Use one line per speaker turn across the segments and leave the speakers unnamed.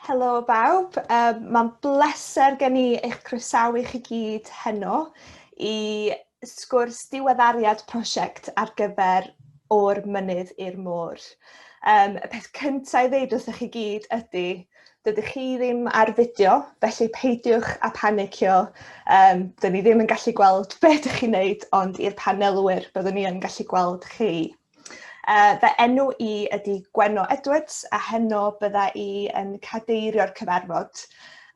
Helo bawb, um, mae'n bleser gen i eich croesawu chi gyd heno i sgwrs diweddariad prosiect ar gyfer o'r mynydd i'r môr. Um, y peth cyntaf i ddeud wrthych chi gyd ydy, Dydych chi ddim ar fideo, felly peidiwch â panicio. Um, dyn ni ddim yn gallu gweld be ydych chi'n neud, ond i'r panelwyr, byddwn ni yn gallu gweld chi. Uh, fe enw i ydy Gwenno Edwards, a heno bydda i yn cadeirio'r cyfarfod.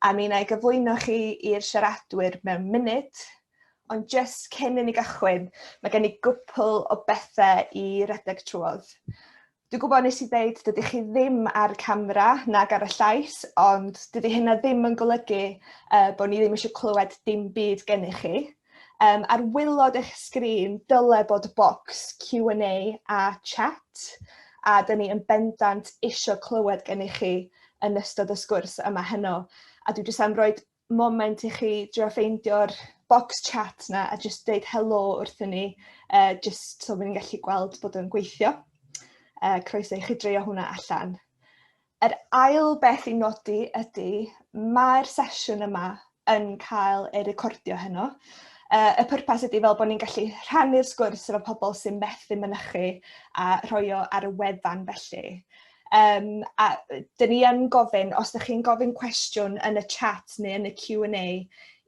A mi na i gyflwyno chi i'r siaradwyr mewn munud, ond jyst cyn i ni gychwyn, mae gen i gwpl o bethau i redeg trwodd. Dwi'n gwybod nes i ddeud dydych chi ddim ar camera nag ar y llais, ond dydy hynna ddim yn golygu uh, bod ni ddim eisiau clywed dim byd gennych chi. Um, ar wylod eich sgrin, dyle bod bocs Q&A a chat, a dyn ni yn bendant eisiau clywed gennych chi yn ystod y sgwrs yma heno. A dwi jyst am roed moment i chi drio ffeindio'r box chat 'na a jyst deud helo wrthyn ni uh, jyst so ni'n gallu gweld bod yn gweithio. Uh, croeso i chi dreio hwnna allan. Yr ail beth i nodi ydy mae'r sesiwn yma yn cael ei recordio heno. Uh, y pwrpas ydy fel bod ni'n gallu rhannu'r sgwrs efo pobl sy'n methu mynychu a rhoi o ar y wefan felly. Um, a dyn ni yn gofyn, os ydych chi'n gofyn cwestiwn yn y chat neu yn y Q&A,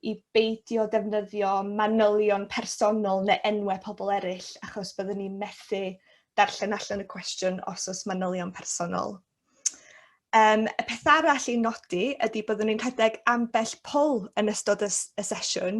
i beidio defnyddio manylion personol neu enwau pobl eraill, achos byddwn ni'n methu darllen allan y cwestiwn os oes manylion personol. Um, y peth arall i nodi ydy byddwn ni'n rhedeg ambell poll yn ystod y, y sesiwn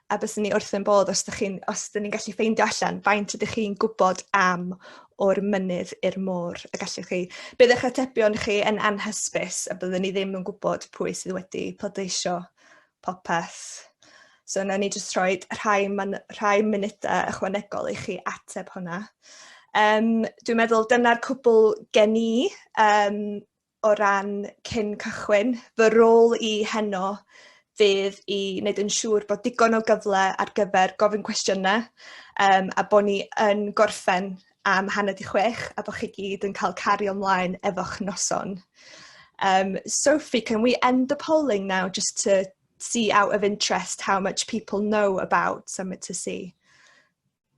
a byswn ni wrth yn bodd os ydych chi'n os ydych ni'n gallu ffeindio allan faint ydych chi'n gwybod am o'r mynydd i'r môr y gallwch chi bydd eich atebion chi yn anhysbys a byddwn ni ddim yn gwybod pwy sydd wedi pleidleisio popeth. So na ni jyst rhoi rhai, man, rhai munudau ychwanegol i chi ateb hwnna. Um, dwi'n meddwl dyna'r cwbl gen i um, o ran cyn cychwyn, fy rôl i heno fydd i wneud yn siŵr bod digon o gyfle ar gyfer gofyn cwestiynau um, a bod ni yn gorffen am hanner di chwech a bod chi gyd yn cael cario ymlaen efo'ch noson. Um, Sophie, can we end the polling now just to see out of interest how much people know about Summit to See?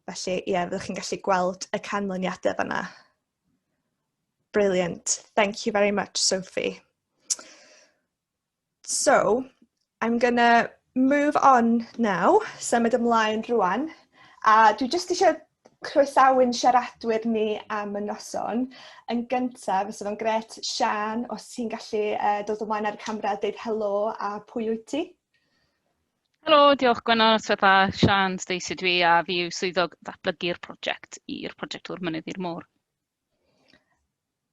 Felly, ie, yeah, fyddwch chi'n gallu gweld y canlyniadau fanna. Brilliant. Thank you very much, Sophie. So, I'm going to move on now, symud ymlaen rwan. A dwi jyst eisiau croesawu'n siaradwyr ni am y noson. Yn gyntaf, fysa fo'n gret, Sian, os ti'n gallu uh, dod ymlaen ar y camera a deud helo a pwy wyt ti?
Helo, diolch Gwenno, Swetha, Sian, Stacey dwi a fi yw swyddog ddatblygu'r prosiect i'r prosiect o'r mynydd i'r môr.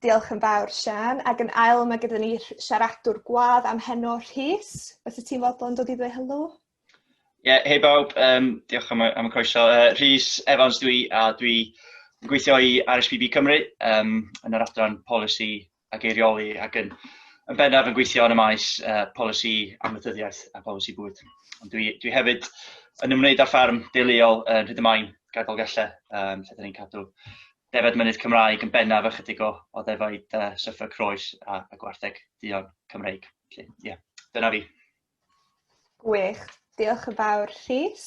Diolch
yn fawr Sian, ac yn ail mae gyda ni siaradwr gwadd am heno Rhys, os y ti'n fodlon dod i ddweud helo? Ie, yeah, hei
bawb, um, diolch am, am y croeso. Uh, Rhys Evans dwi, a dwi yn gweithio i RSPB Cymru um, yn yr adran polisi ac eirioli ac yn, yn bennaf yn gweithio yn y maes uh, polisi amaethyddiaeth a polisi bwyd. Ond dwi, dwi hefyd yn ymwneud â'r ffarm deuluol yn Rhyd y Main, gadol gallu, um, lle dyn ni'n cadw defed mynydd Cymraeg yn bennaf ychydig o, o ddefaid uh, syffa croes a, a gwartheg dion Cymreig. Felly, yeah, dyna fi.
Gwych. Diolch yn fawr Rhys.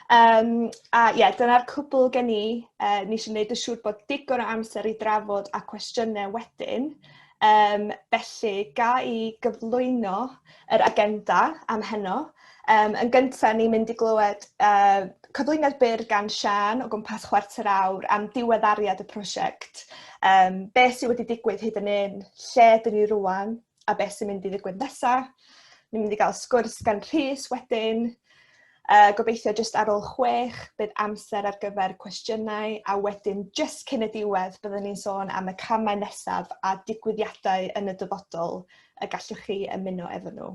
Um, a ie, yeah, dyna'r cwbl gen i. Uh, ni eisiau gwneud y siŵr bod digon o amser i drafod a cwestiynau wedyn. Um, felly, ga i gyflwyno yr agenda am heno. Um, yn gyntaf, ni'n mynd i glywed uh, cyflwyniad byr gan Sian o gwmpas chwarter awr am diweddariad y prosiect. Um, beth sydd wedi digwydd hyd yn un, lle dyn ni rwan, a beth sy'n mynd i ddigwydd nesa. Ni'n mynd i gael sgwrs gan Rhys wedyn. Uh, gobeithio jyst ar ôl chwech, bydd amser ar gyfer cwestiynau a wedyn jyst cyn y diwedd byddwn ni'n sôn am y camau nesaf a digwyddiadau yn y dyfodol y gallwch chi ymuno efo nhw.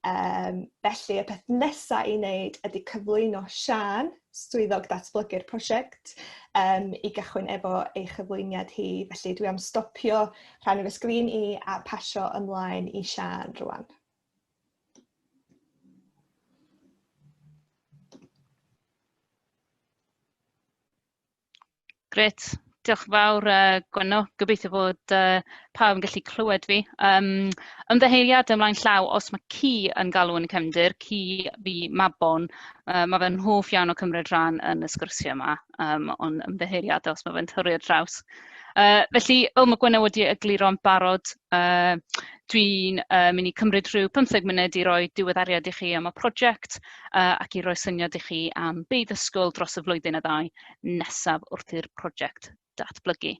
Um, felly, y peth nesaf i wneud ydy cyflwyno Sian, swyddog datblygu'r prosiect, um, i gychwyn efo ei chyflwyniad hi. Felly, dwi am stopio rhan o'r sgrin i a pasio ymlaen i Sian rwan.
Grêt, diolch yn fawr yy Gwenno. Gobeithio bod yy pawb yn gallu clywed fi. Yym ymddiheuriadau ymlaen llaw os mae ci yn galw yn y cefndir, ci fi Mabon, yy mae fe'n hoff iawn o cymryd rhan yn y sgyrsiau yma, yym ond ymddiheuriadau os mae fe'n torri ar draws. Yy felly, fel mae Gwenno wedi egluro'n barod, Yy dwi'n uh, mynd i cymryd rhyw 15 munud i roi diweddariad i chi am y prosiect uh, ac i roi syniad i chi am be ddysgwyl dros y flwyddyn a ddau nesaf wrth i'r prosiect datblygu.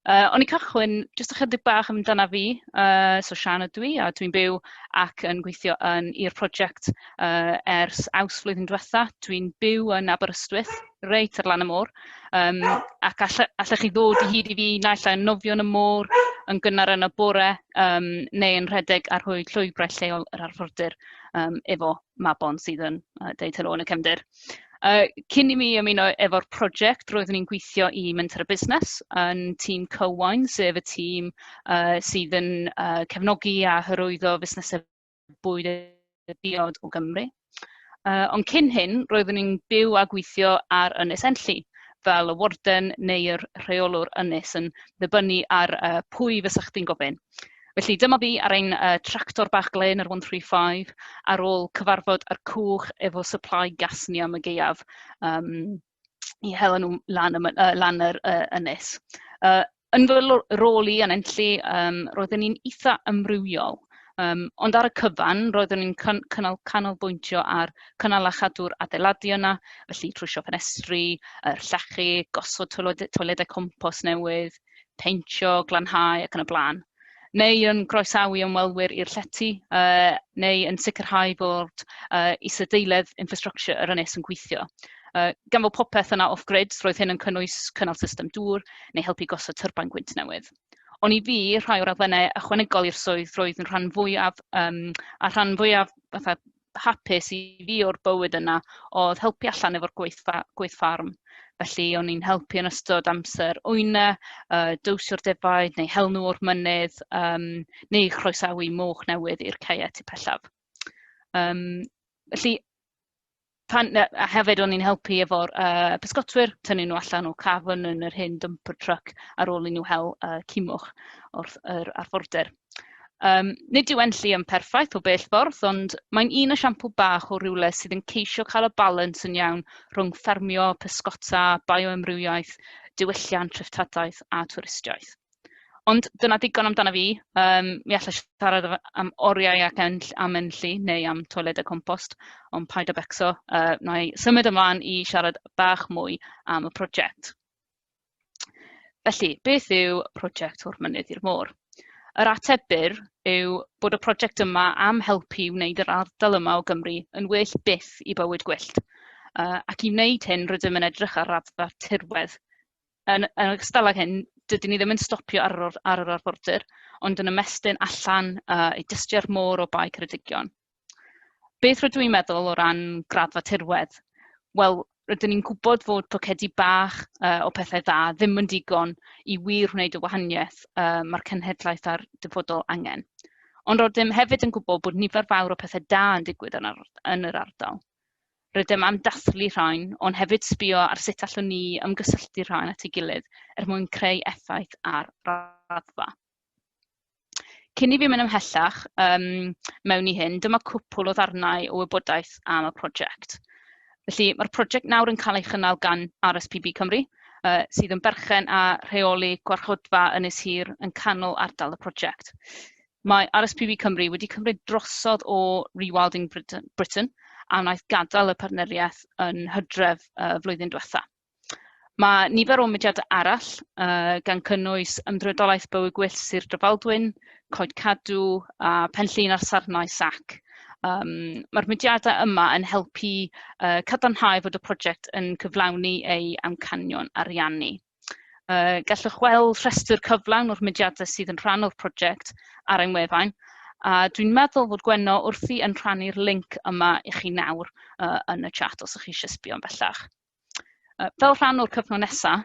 Uh, o'n i cychwyn jyst ychydig bach amdana fi, uh, so Sian ydw i, a dwi'n byw ac yn gweithio yn i'r prosiect uh, ers aws flwyddyn diwetha. Dwi'n byw yn Aberystwyth, reit ar lan y môr, um, ac allech, allech chi ddod i hyd i fi naill ai'n nofio yn y môr, yn gynnar yn y bore, um, neu yn rhedeg ar hwy llwybrau lleol yr arfordir um, efo Mabon sydd yn uh, deud helo yn y cefndir. Uh, cyn i mi ymuno efo'r prosiect, roeddwn i'n gweithio i Menter y Busnes yn tîm Cywain, sef y tîm uh, sydd yn uh, cefnogi a hyrwyddo fusnesau bwyd a diod o Gymru. Uh, ond cyn hyn, roeddwn ni'n byw a gweithio ar Ynys Enlli, fel y warden neu'r rheolwr ynys yn ddibynnu ar uh, pwy fysa chdi'n gofyn. Felly dyma fi ar ein uh, tractor bach glen ar 135 ar ôl cyfarfod ar cwch efo supply gas ni am y geiaf. Um, i hel nhw lan y my- yy lan yr yy ynys. Yy yn fy lo- rôl i yn Enlli yym roeddwn ni'n eitha' amrywiol, yym ond ar y cyfan roeddwn ni'n can- cynnal canolbwyntio ar cynnal a chadw'r adeiladu yna, felly trwsio ffenestri, yy llechi, gosod toiled- toiledau compos newydd. peintio, glanhau ac yn y blaen, neu yn groesawu ymwelwyr i'r llety, uh, neu yn sicrhau bod uh, isadeiledd infrastructure yr ynys yn gweithio. Uh, gan fod popeth yna off-grid, roedd hyn yn cynnwys cynnal system dŵr neu helpu gosod tyrbain gwynt newydd. Ond i fi, rhai o'r adfennau ychwanegol i'r swydd roedd yn rhan fwyaf, um, a rhan fwyaf fatha hapus i fi o'r bywyd yna oedd helpu allan efo'r gweith, gweith ffarm. Felly o'n i'n helpu yn ystod amser wyna, uh, dywsio'r defaid neu hel nhw o'r mynydd, um, neu chroesawu moch newydd i'r caeau tu pellaf. Um, felly, pan, a hefyd o'n i'n helpu efo'r uh, pysgotwyr, tynnu nhw allan o cafn yn yr hyn dumper truck ar ôl i nhw hel uh, cimwch o'r, yr arfordir. Yym, nid yw e'n llu yn perffaith o bell ffordd, ond mae'n un esiampl bach o rywle sydd yn ceisio cael y balans yn iawn rhwng ffermio, pysgota, bioamrywiaeth, diwylliant, treftadaeth a twristiaeth. Ond dyna ddigon amdano fi. Um, mi allai siarad am oriau ac enll, am enllu neu am toiledau compost, ond paid a becso, uh, na i symud ymlaen i siarad bach mwy am y prosiect. Felly, beth yw prosiect o'r mynydd i'r môr? Yr ateb byr yw bod y prosiect yma am helpu i wneud yr ardal yma o Gymru yn well byth i bywyd gwyllt. Uh, ac i wneud hyn, rydym yn edrych ar raddfa tirwedd. Yn, yn ogystal ag hyn, dydyn ni ddim yn stopio ar yr, ar yr arfordir, ond yn ymestyn allan uh, i dystiau'r môr o bae Ceredigion. Beth rydw i'n meddwl o ran graddfa tirwedd? Wel, rydyn ni'n gwybod fod pocedi bach uh, o pethau dda ddim yn digon i wir wneud y wahaniaeth uh, mae'r cenhedlaeth a'r dyfodol angen. Ond rydym hefyd yn gwybod bod nifer fawr o pethau da yn digwydd yn, ar, yn yr ardal. Rydym am dathlu rhain, ond hefyd sbio ar sut allwn ni ymgysylltu rhain at ei gilydd er mwyn creu effaith ar raddfa. Cyn i fi mynd ymhellach um, mewn i hyn, dyma cwpl o ddarnau o wybodaeth am y prosiect. Felly, mae'r prosiect nawr yn cael ei chynnal gan RSPB Cymru, uh, sydd yn berchen a rheoli gwarchodfa Ynys Hir yn canol ardal y prosiect. Mae RSPB Cymru wedi cymryd drosodd o Rewilding Britain, Britain a wnaeth gadael y partneriaeth yn hydref uh, flwyddyn diwetha. Mae nifer o mudiadau arall, uh, gan cynnwys Ymddrydolaeth Bywyd Gwyllt Sir Drefaldwyn, Coed Cadw a Penllyn a'r Sarnau SAC. Um, Mae'r mudiadau yma yn helpu uh, cadarnhau fod y prosiect yn cyflawni ei amcanion ariannu. Uh, gallwch weld rhestr cyflawn o'r mudiadau sydd yn rhan o'r prosiect ar ein wefan, a dwi'n meddwl fod Gwenno wrthi yn rhannu'r link yma i chi nawr uh, yn y chat os ydych chi eisiau sbio yn bellach. Fel rhan o'r cyfnod nesaf,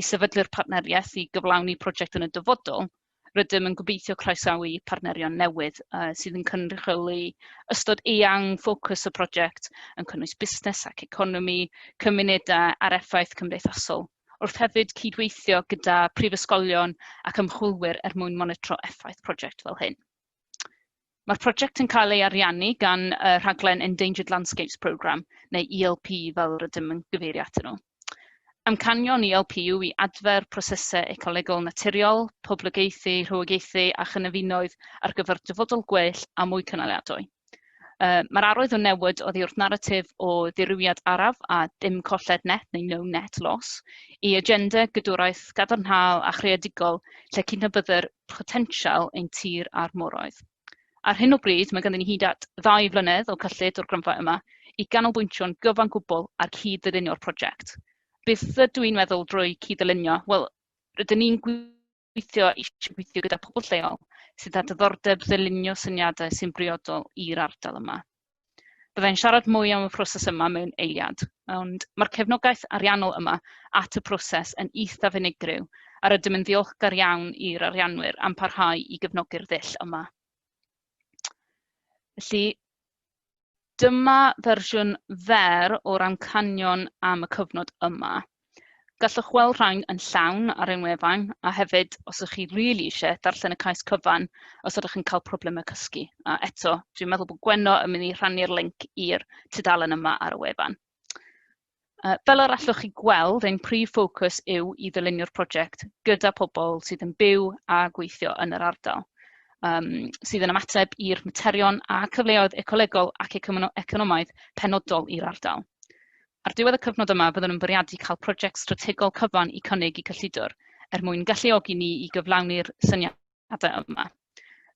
i sefydlu'r partneriaeth i gyflawni prosiect yn y dyfodol, rydym yn gobeithio croesawu partnerion newydd sydd yn cynrychioli ystod eang ffocws y prosiect, yn cynnwys busnes ac economi, cymunedau a'r effaith cymdeithasol, wrth hefyd cydweithio gyda prifysgolion ac ymchwilwyr er mwyn monitro effaith prosiect fel hyn. Mae'r prosiect yn cael ei ariannu gan y rhaglen Endangered Landscapes Programme, neu ELP fel rydym yn gyfeirio atyn nhw. Amcanion ELP yw i adfer prosesau ecolegol naturiol, poblogaethu, rhywogaethu a chynefinoedd ar gyfer dyfodol gwell a mwy cynaliadwy. Uh, Mae'r arwydd o newid oddi wrth naratif o ddirywiad araf a dim colled net neu no net loss i agenda gydwraeth gadarnhaol a chreadigol lle cydnabyddir potensial ein tir a'r moroedd. Ar hyn o bryd, mae ganddyn ni hyd at ddau flynedd o cyllid o'r gronfa yma i ganolbwyntio'n gyfan gwbl ar cyd-ddylunio'r project. Beth ydw i'n meddwl drwy cyd-ddylunio? Wel, rydyn ni'n gweithio eisiau gweithio gyda pobl lleol sydd â diddordeb ddylunio syniadau sy'n briodol i'r ardal yma. Byddai'n siarad mwy am y proses yma mewn eiliad, ond mae'r cefnogaeth ariannol yma at y proses yn eithaf unigryw a rydym yn ddiolchgar iawn i'r arianwyr am parhau i gefnogi'r ddull yma. Felly, dyma fersiwn fer o'r amcanion am y cyfnod yma. Gallwch weld rhain yn llawn ar ein wefan, a hefyd, os ydych chi really eisiau darllen y cais cyfan, os ydych yn cael problemau cysgu. A eto, dwi'n meddwl bod Gwenno yn mynd i rhannu'r link i'r tudalen yma ar y wefan. Uh, fel yr allwch chi gweld, ein prif ffocws yw i ddylunio'r prosiect gyda pobl sydd yn byw a gweithio yn yr ardal, um, sydd yn ymateb i'r materion a cyfleoedd ecolegol ac economaidd penodol i'r ardal. Ar ddiwedd y cyfnod yma byddwn yn bwriadu cael prosiect strategol cyfan i cynnig i cyllidwr, er mwyn galluogi ni i gyflawni'r syniadau yma.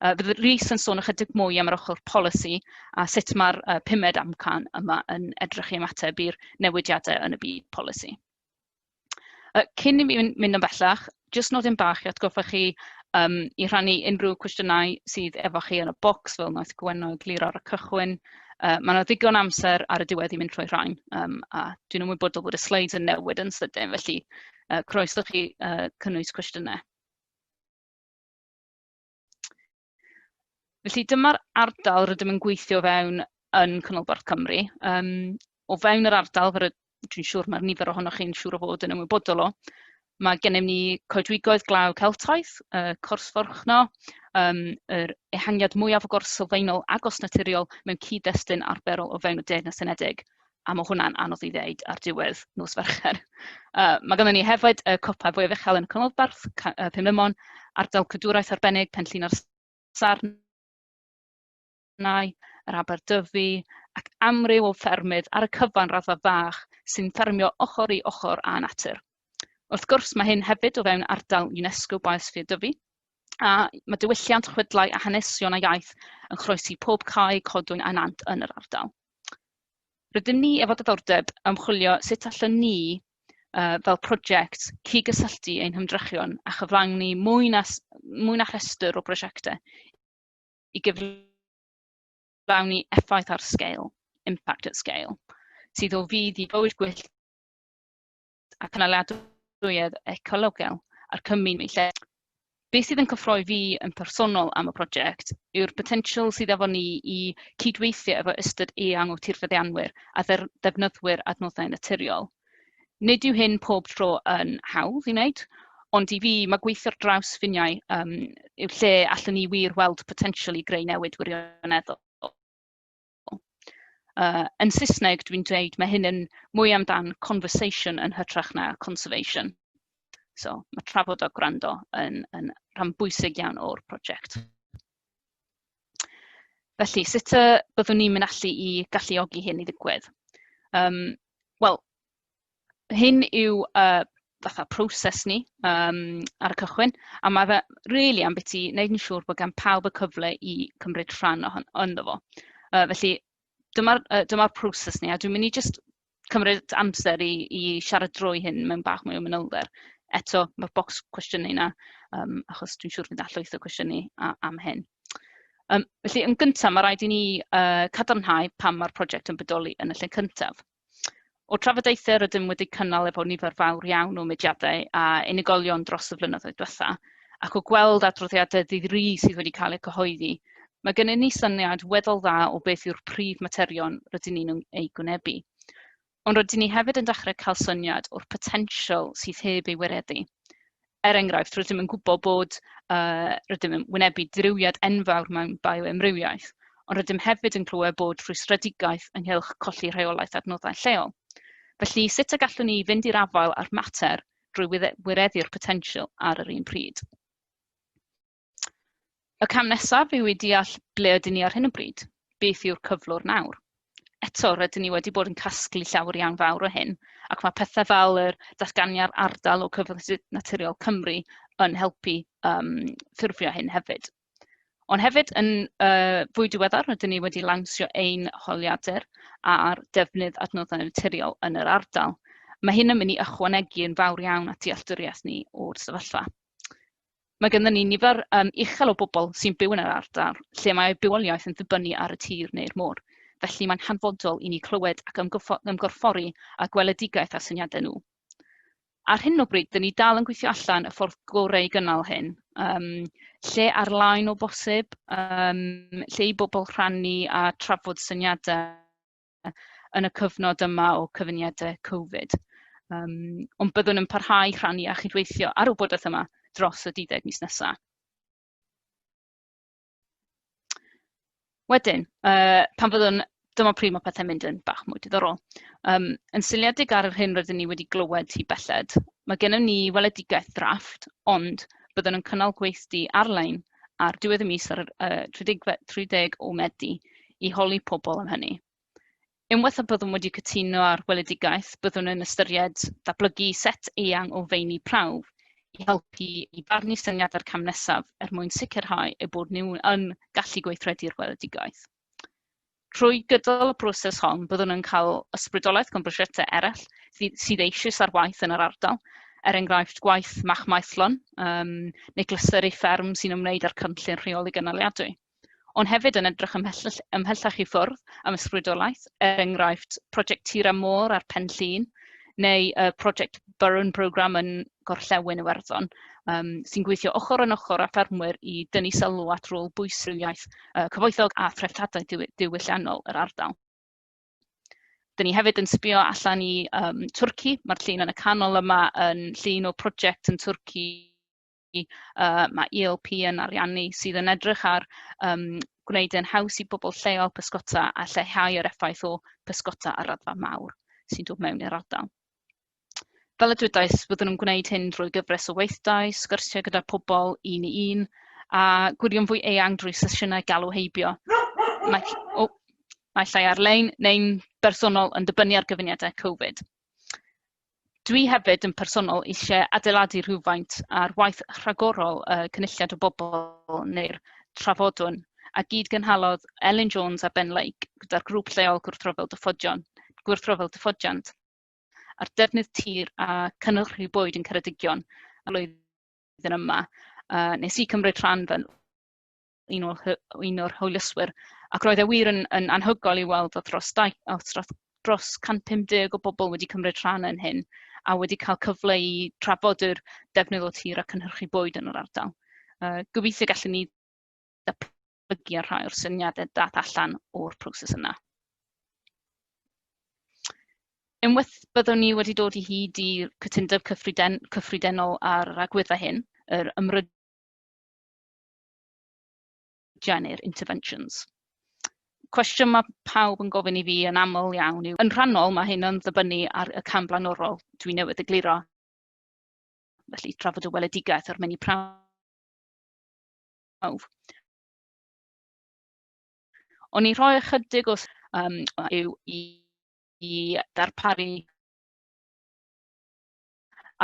Uh, bydd Rhys yn sôn ychydig mwy am yr ochr polisi a sut mae'r uh, pumed amcan yma yn edrych i ymateb i'r newidiadau yn y byd polisi. Yy cyn i mi myn- mynd yn bellach, jyst nodyn bach i atgoffa chi yym i rhannu unrhyw cwestiynau sydd efo chi yn y bocs fel wnaeth Gwenno egluro ar y cychwyn. Yy ma' 'na ddigon o amser ar y diwedd i mynd trwy rhain, yym a dwi'n ymwybodol bod y sleids yn newid yn sydyn, felly yy croeso i chi yy cynnwys cwestiynau. Felly dyma'r ardal rydym yn gweithio fewn yn Canolbarth Cymru. Um, o fewn yr ardal, fel dwi'n siŵr mae'r nifer ohonoch chi'n siŵr o fod yn ymwybodol o, mae gennym ni coedwigoedd glaw Celtaidd, y cors forchno, um, yr ehangiad mwyaf o gors sylfaenol agos naturiol mewn cyd-destun arferol o fewn y Deyrnas Unedig. a ma' hwnna'n anodd i ddeud ar diwedd nos Fercher. Uh, mae gennym ni hefyd y copa fwyaf uchel yn y Canolbarth, uh, Pumlemon, ardal cadwraeth arbennig, Penllyn a'r Sarn, yr Aberdyfi, ac amryw o ffermydd ar y cyfan raddfa fach sy'n ffermio ochr i ochr â natur. Wrth gwrs, mae hyn hefyd o fewn ardal UNESCO Biosphere Dyfi, a mae diwylliant, chwedlau a hanesion a iaith yn chroesi pob cae, codwyn a nant yn yr ardal. Rydym ni efo diddordeb am chwilio sut allwn ni uh, fel prosiect cygysylltu ein hymdrechion a chyflawni mwy na, mwy na rhestr o brosiectau i gyflawni effaith ar sgael, impact at scale, sydd o fydd i bywyd gwyllt a cynaliadwyedd ecologaidd a'r cymuned eu lleol. Be sydd yn cyffroi fi yn personol am y prosiect yw'r potensial sydd efo ni i cydweithio efo ystod eang o tirfeddianwyr a ddefnyddwyr adnoddau naturiol. Nid yw hyn pob tro yn hawdd i wneud, ond i fi mae gweithio ar draws ffiniau um, yw'r lle allwn ni wir weld potensial i greu newid wirioneddol. Yy yn Saesneg dwi'n dweud ma' hyn yn mwy amdan conversation yn hytrach na conservation. So ma' trafod a gwrando yn yn rhan bwysig iawn o'r prosiect. Felly sut yy byddwn ni'n mynd allu i galluogi hyn i ddigwydd? Yym wel hyn yw uh, fatha proses ni um, ar y cychwyn, a mae fe rili really am beth i wneud yn siŵr bod gan pawb y cyfle i cymryd rhan o hon, ynddo fo. Uh, felly, dyma'r uh, dyma proses ni, a dwi'n mynd i just cymryd amser i, i siarad drwy hyn mewn bach mwy o mynylder. Eto, mae'r bocs cwestiynau yna, um, achos dwi'n siŵr fydd allwyth o cwestiynau am hyn. Um, felly, yn gyntaf, mae rhaid i ni uh, cadarnhau pam mae'r prosiect yn bodoli yn y lle cyntaf. O'r trafodaethau rydym wedi cynnal efo nifer fawr iawn o mudiadau a unigolion dros y flynyddoedd diwetha', ac o gweld adroddiadau ddydd Ri sydd wedi cael eu cyhoeddi, mae gennym ni syniad weddol dda o beth yw'r prif materion rydyn ni'n eu gwynebu. Ond rydyn ni hefyd yn dechrau cael syniad o'r potensial sydd heb ei wireddu. er enghraifft, rydym yn gwybod bod uh, rydym yn wynebu dirywiad enfawr mewn bioemrywiaeth, ond rydym hefyd yn clywed bod rhwystredigaeth ynghylch colli rheolaeth adnoddau lleol. Felly, sut y gallwn ni fynd i'r afael â'r mater drwy wireddu'r potensial ar yr un pryd? Y cam nesaf yw i deall ble ydyn ni ar hyn o bryd, beth yw'r cyflwr nawr. Eto, rydyn ni wedi bod yn casglu llawer iawn fawr o hyn, ac mae pethau fel yr datganiad ardal o Cyfoethog Naturiol Cymru yn helpu um, ffurfio hyn hefyd. Ond hefyd, yn uh, fwy diweddar, rydyn ni wedi lansio ein holiadur ar defnydd adnoddau naturiol yn yr ardal. Mae hyn yn mynd i ychwanegu yn fawr iawn at dealltwriaeth ni o'r sefyllfa. Mae gennym ni nifer um, uchel o bobl sy'n byw yn yr ardal lle mae eu bywoliaeth yn ddibynnu ar y tir neu'r môr. Felly mae'n hanfodol i ni clywed ac ymgorffori a gweledigaeth a syniadau nhw. Ar hyn o bryd, dyn ni dal yn gweithio allan y ffordd gorau i gynnal hyn. Um, lle ar-lain o bosib, um, lle i bobl rhannu a trafod syniadau yn y cyfnod yma o cyfyngiadau Covid. Um, ond byddwn yn parhau rhannu a chydweithio ar y wybodaeth yma dros y 12 mis nesaf. Wedyn, uh, pan fyddwn dyma pryd mae pethau'n mynd yn bach mwy diddorol. Um, yn syliedig ar yr hyn rydyn ni wedi glywed hi belled, mae gennym ni weledigaeth ddrafft, ond byddwn yn cynnal gweithdy ar-lein ar diwedd y mis ar y 30 o Medi i holi pobl am hynny. Unwaith y byddwn wedi cytuno ar weledigaeth, byddwn yn ystyried datblygu set eang o feini prawf i helpu i barnu syniadau'r cam nesaf er mwyn sicrhau eu bod nhw yn gallu gweithredu'r weledigaeth. Trwy gydol y broses hon, byddwn yn cael ysbrydoliaeth gan brosiectau eraill sydd eisoes ar waith yn yr ardal, er enghraifft gwaith Mach Maethlon um, neu glyseru fferm sy'n ymwneud â'r cynllun rheoli gynaliadwy ond hefyd yn edrych ymhellach, ymhellach i ffwrdd am ysbrydolaeth, er enghraifft prosiect Tira Môr a'r Pen Llun, neu y uh, prosiect Burren Programme yn Gorllewin Iwerddon, um, sy'n gweithio ochr yn ochr â ffermwyr i dynnu sylw at rôl bwysig iaith uh, cyfoethog a threftadaeth diwylliannol yr ardal. Dyn ni hefyd yn sbio allan i um, Twrci, mae'r llun yn y canol yma yn llun o prosiect yn Twrci uh, mae ELP yn ariannu sydd yn edrych ar um, gwneud yn haws i bobl lleol pysgota a lleihau yr effaith o pysgota ar raddfa mawr sy'n dod mewn i'r ardal. fel y dwedais, byddwn yn gwneud hyn drwy gyfres o weithdai, sgyrsiau gyda pobl un i un, a gwirion fwy eang drwy sesiynau galw heibio. Mae, oh, mae llai ar-lein neu'n bersonol yn dibynnu ar gyfuniadau Covid. Dwi hefyd yn personol eisiau adeiladu rhywfaint ar waith rhagorol y cynulliad o bobl neu'r trafodwn a gyd gynhalodd Elin Jones a Ben Lake gyda'r grŵp lleol gwrthryfel dyffodion, gwrthryfel dyffodiant. a'r defnydd tir a cynhyrchu bwyd yn Ceredigion y flwyddyn yma. Uh, nes i cymryd rhan fel un o'r, un o'r hwylyswyr ac roedd e wir yn, yn anhygol i weld oedd dros, dau, oedd dros 150 o bobl wedi cymryd rhan yn hyn a wedi cael cyfle i trafod yr defnydd o tir a cynhyrchu bwyd yn yr ardal. Uh, gobeithio gallwn ni datblygu a rhai o'r syniadau dath allan o'r proses yna. Unwaith byddwn ni wedi dod i hyd i cytundeb cyffriden, cyffredinol ar yr agwedda hyn, yr ymryd neu'r interventions. Cwestiwn mae pawb yn gofyn i fi yn aml iawn yw, yn rhannol mae hyn yn ddibynnu ar y cam blaenorol dwi newydd egluro, felly trafod y weledigaeth a'r menu prawf prawf. O'n i'n rhoi ychydig o um, yw i, i darparu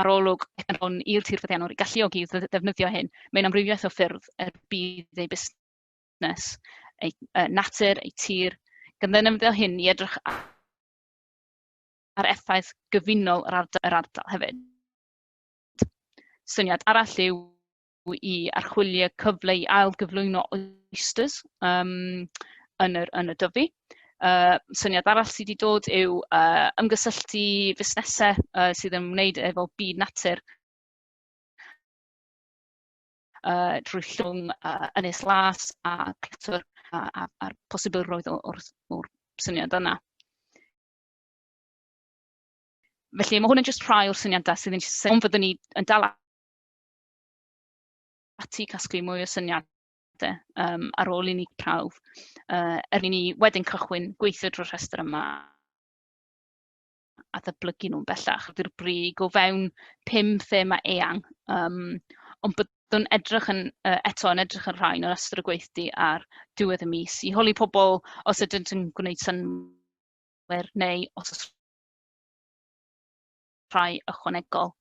arolwg hwn i'r tirfeddiannwr i galluogi i ddefnyddio hyn. Mae'n amrywiaeth o ffyrdd er bydd ei busnes, ei uh, natur, ei tir, gyda'n ymddeol hyn i edrych ar effaith gyfunol yr ardal, yr ardal hefyd. Syniad arall yw i archwilio cyfle i ailgyflwyno oysters um, yn, yr, yn y dyfu. Uh, syniad arall sydd wedi dod yw uh, ymgysylltu fusnesau uh, sydd yn wneud efo byd natur uh, drwy llwng uh, Ynys Las a Cletwr a'r a, posibilrwydd o'r, or syniad yna. Felly mae hwn yn just rhai o'r syniadau sydd yn syniad, ond fyddwn ni yn dal ati i casglu mwy o syniadau um, ar ôl i ni prawf, uh, er i ni wedyn cychwyn gweithio drwy'r rhestr yma a ddyblygu nhw'n bellach. Dyw'r brig o fewn pum thema eang, um, ond byddwn edrych yn, uh, eto yn edrych yn rhain yn ystod y gweithdy ar diwedd y mis i holi pobl os ydynt yn gwneud synwyr neu os oes rhai ychwanegol.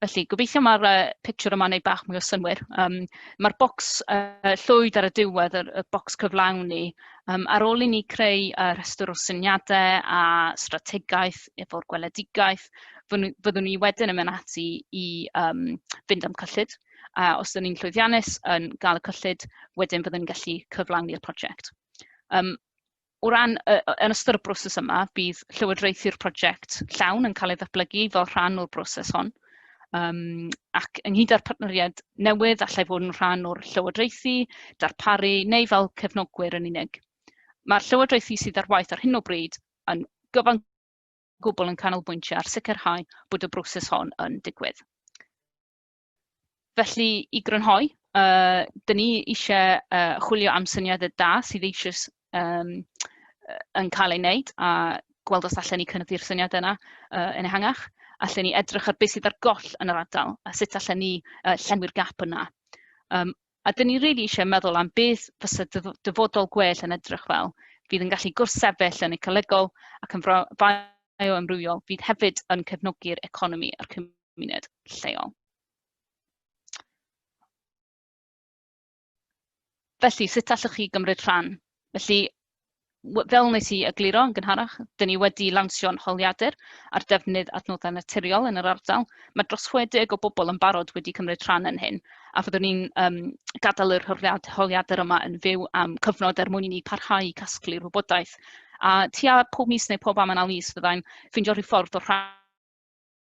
Felly, gobeithio mae'r uh, picture yma'n ei bach mwy o synwyr. Um, Mae'r bocs uh, llwyd ar y diwedd, y, y bocs cyflawni, um, ar ôl i ni creu uh, rhestr o syniadau a strategaeth efo'r gweledigaeth, fyddwn ni wedyn yn mynd ati i um, fynd am cyllid. A os ydyn ni'n llwyddiannus yn gael y cyllid, wedyn fyddwn ni'n gallu cyflawni'r prosiect. Um, O ran, yy, yn ystod y broses yma, bydd llywodraethu'r prosiect llawn yn cael ei ddatblygu fel rhan o'r broses hon, um, ac ynghyd â'r partneriaid newydd allai fod yn rhan o'r llywodraethu, darparu neu fel cefnogwyr yn unig. Mae'r llywodraethu sydd ar waith ar hyn o bryd yn gyfan gwbl yn canolbwyntio ar sicrhau bod y broses hon yn digwydd. Felly, i grynhoi, uh, dyn ni eisiau uh, chwilio am syniadau da sydd eisiau um, yn cael ei wneud a gweld os allan ni cynyddu'r syniadau yna uh, yn ehangach. Allan ni edrych ar beth sydd ar goll yn yr ardal a sut allan ni uh, llenwi'r gap yna. Um, A dyn ni rili eisiau meddwl am beth fysa dyfodol gwell yn edrych fel, fydd yn gallu gwrthsefyll yn ecolegol ac yn fioamrywiol, fydd hefyd yn cefnogi'r economi a'r cymuned lleol. Felly, sut allwch chi gymryd rhan? Felly, w- fel wnes i egluro yn gynharach, dyn ni wedi lansio'n holiadur ar defnydd adnoddau naturiol yn yr ardal. Mae dros 60 o bobl yn barod wedi cymryd rhan yn hyn, a fyddwn ni'n um, gadael yr holiadur yma yn fyw am cyfnod er mwyn i ni parhau i casglu rhywbodaeth. A tua pob mis neu pob am yna mis fyddai'n ffeindio rhyw ffordd o rhan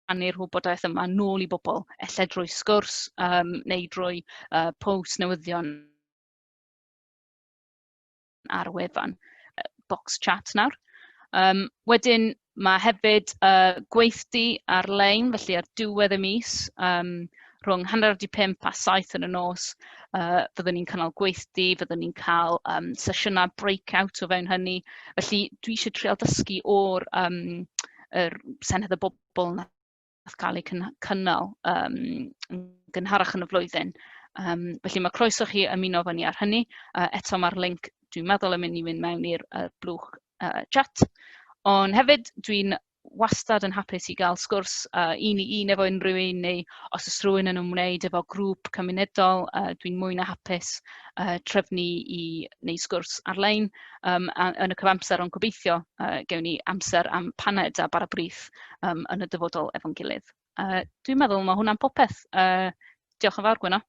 rhannu'r rhywbodaeth yma nôl i bobl, ella drwy sgwrs um, neu drwy uh, post newyddion ar y wefan, box chat nawr. Um, wedyn mae hefyd uh, gweithdy ar-lein, felly ar diwedd y mis, um, rhwng hanner wedi 5 a 7 yn y nos, uh, fyddwn ni'n cynnal gweithdy, fyddwn ni'n cael um, sesiynau breakout o fewn hynny. Felly dwi eisiau treol dysgu o'r um, er senedd y bobl yna wnaeth cael ei cyn- cynnal yym yn gynharach yn y flwyddyn. Um, felly mae croeso chi ymuno efo ni ar hynny. Uh, eto mae'r link, dwi'n meddwl, yn mynd i fynd mewn i'r uh, blwch uh, chat. Ond hefyd, dwi'n wastad yn hapus i gael sgwrs uh, un i un efo unrhyw un neu os oes rhywun yn ymwneud efo grŵp cymunedol, uh, dwi'n mwy na hapus uh, trefnu i neu sgwrs ar-lein um, yn y cyfamser ond gobeithio uh, gewn ni amser am paned a bara brith um, yn y dyfodol efo'n gilydd. Uh, dwi'n meddwl mae hwnna'n popeth. Uh, diolch yn fawr, Gwyno.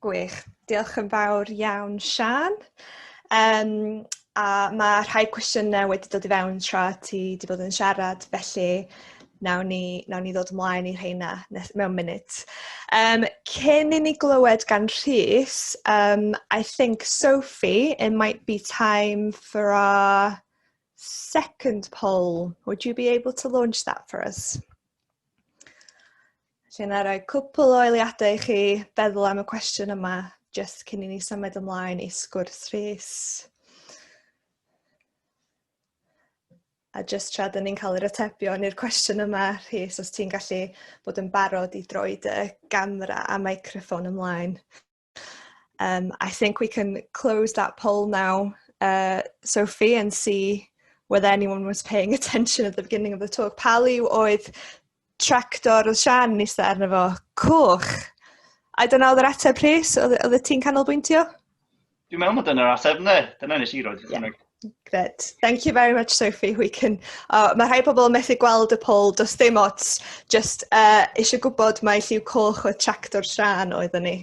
Gwych. Diolch yn fawr iawn, Sian. Um, a mae rhai cwestiynau wedi dod i fewn tra ti wedi bod yn siarad, felly Nawn ni, nawn ni ddod ymlaen i rheina mewn munud. Um, cyn i ni glywed gan Rhys, um, I think, Sophie, it might be time for our second poll. Would you be able to launch that for us? Lle na roi cwpl o eiliadau i chi feddwl am y cwestiwn yma, just cyn i ni symud ymlaen i sgwrs Rhys. A jyst tra dyn ni'n cael yr atebion i'r cwestiwn yma, Rhys, os ti'n gallu bod yn barod i droi dy gamera a microphone ymlaen. Um, I think we can close that poll now, uh, Sophie, and see whether anyone was paying attention at the beginning of the talk. Pali oedd tractor oedd Sian yn eistedd arno fo. Coch. I don't know, oedd yr ateb Rhys, oedd oedd y
ti'n
canolbwyntio?
Dwi'n meddwl
bod dyna'r
ateb, ne? Dyna nes i roed
yeah. Gred. Thank you very much, Sophie. We can... Oh, mae rhai pobl yn methu gweld y pol, does dim ots. Just uh, eisiau gwybod mae lliw coch oedd tractor Sian oedd ni.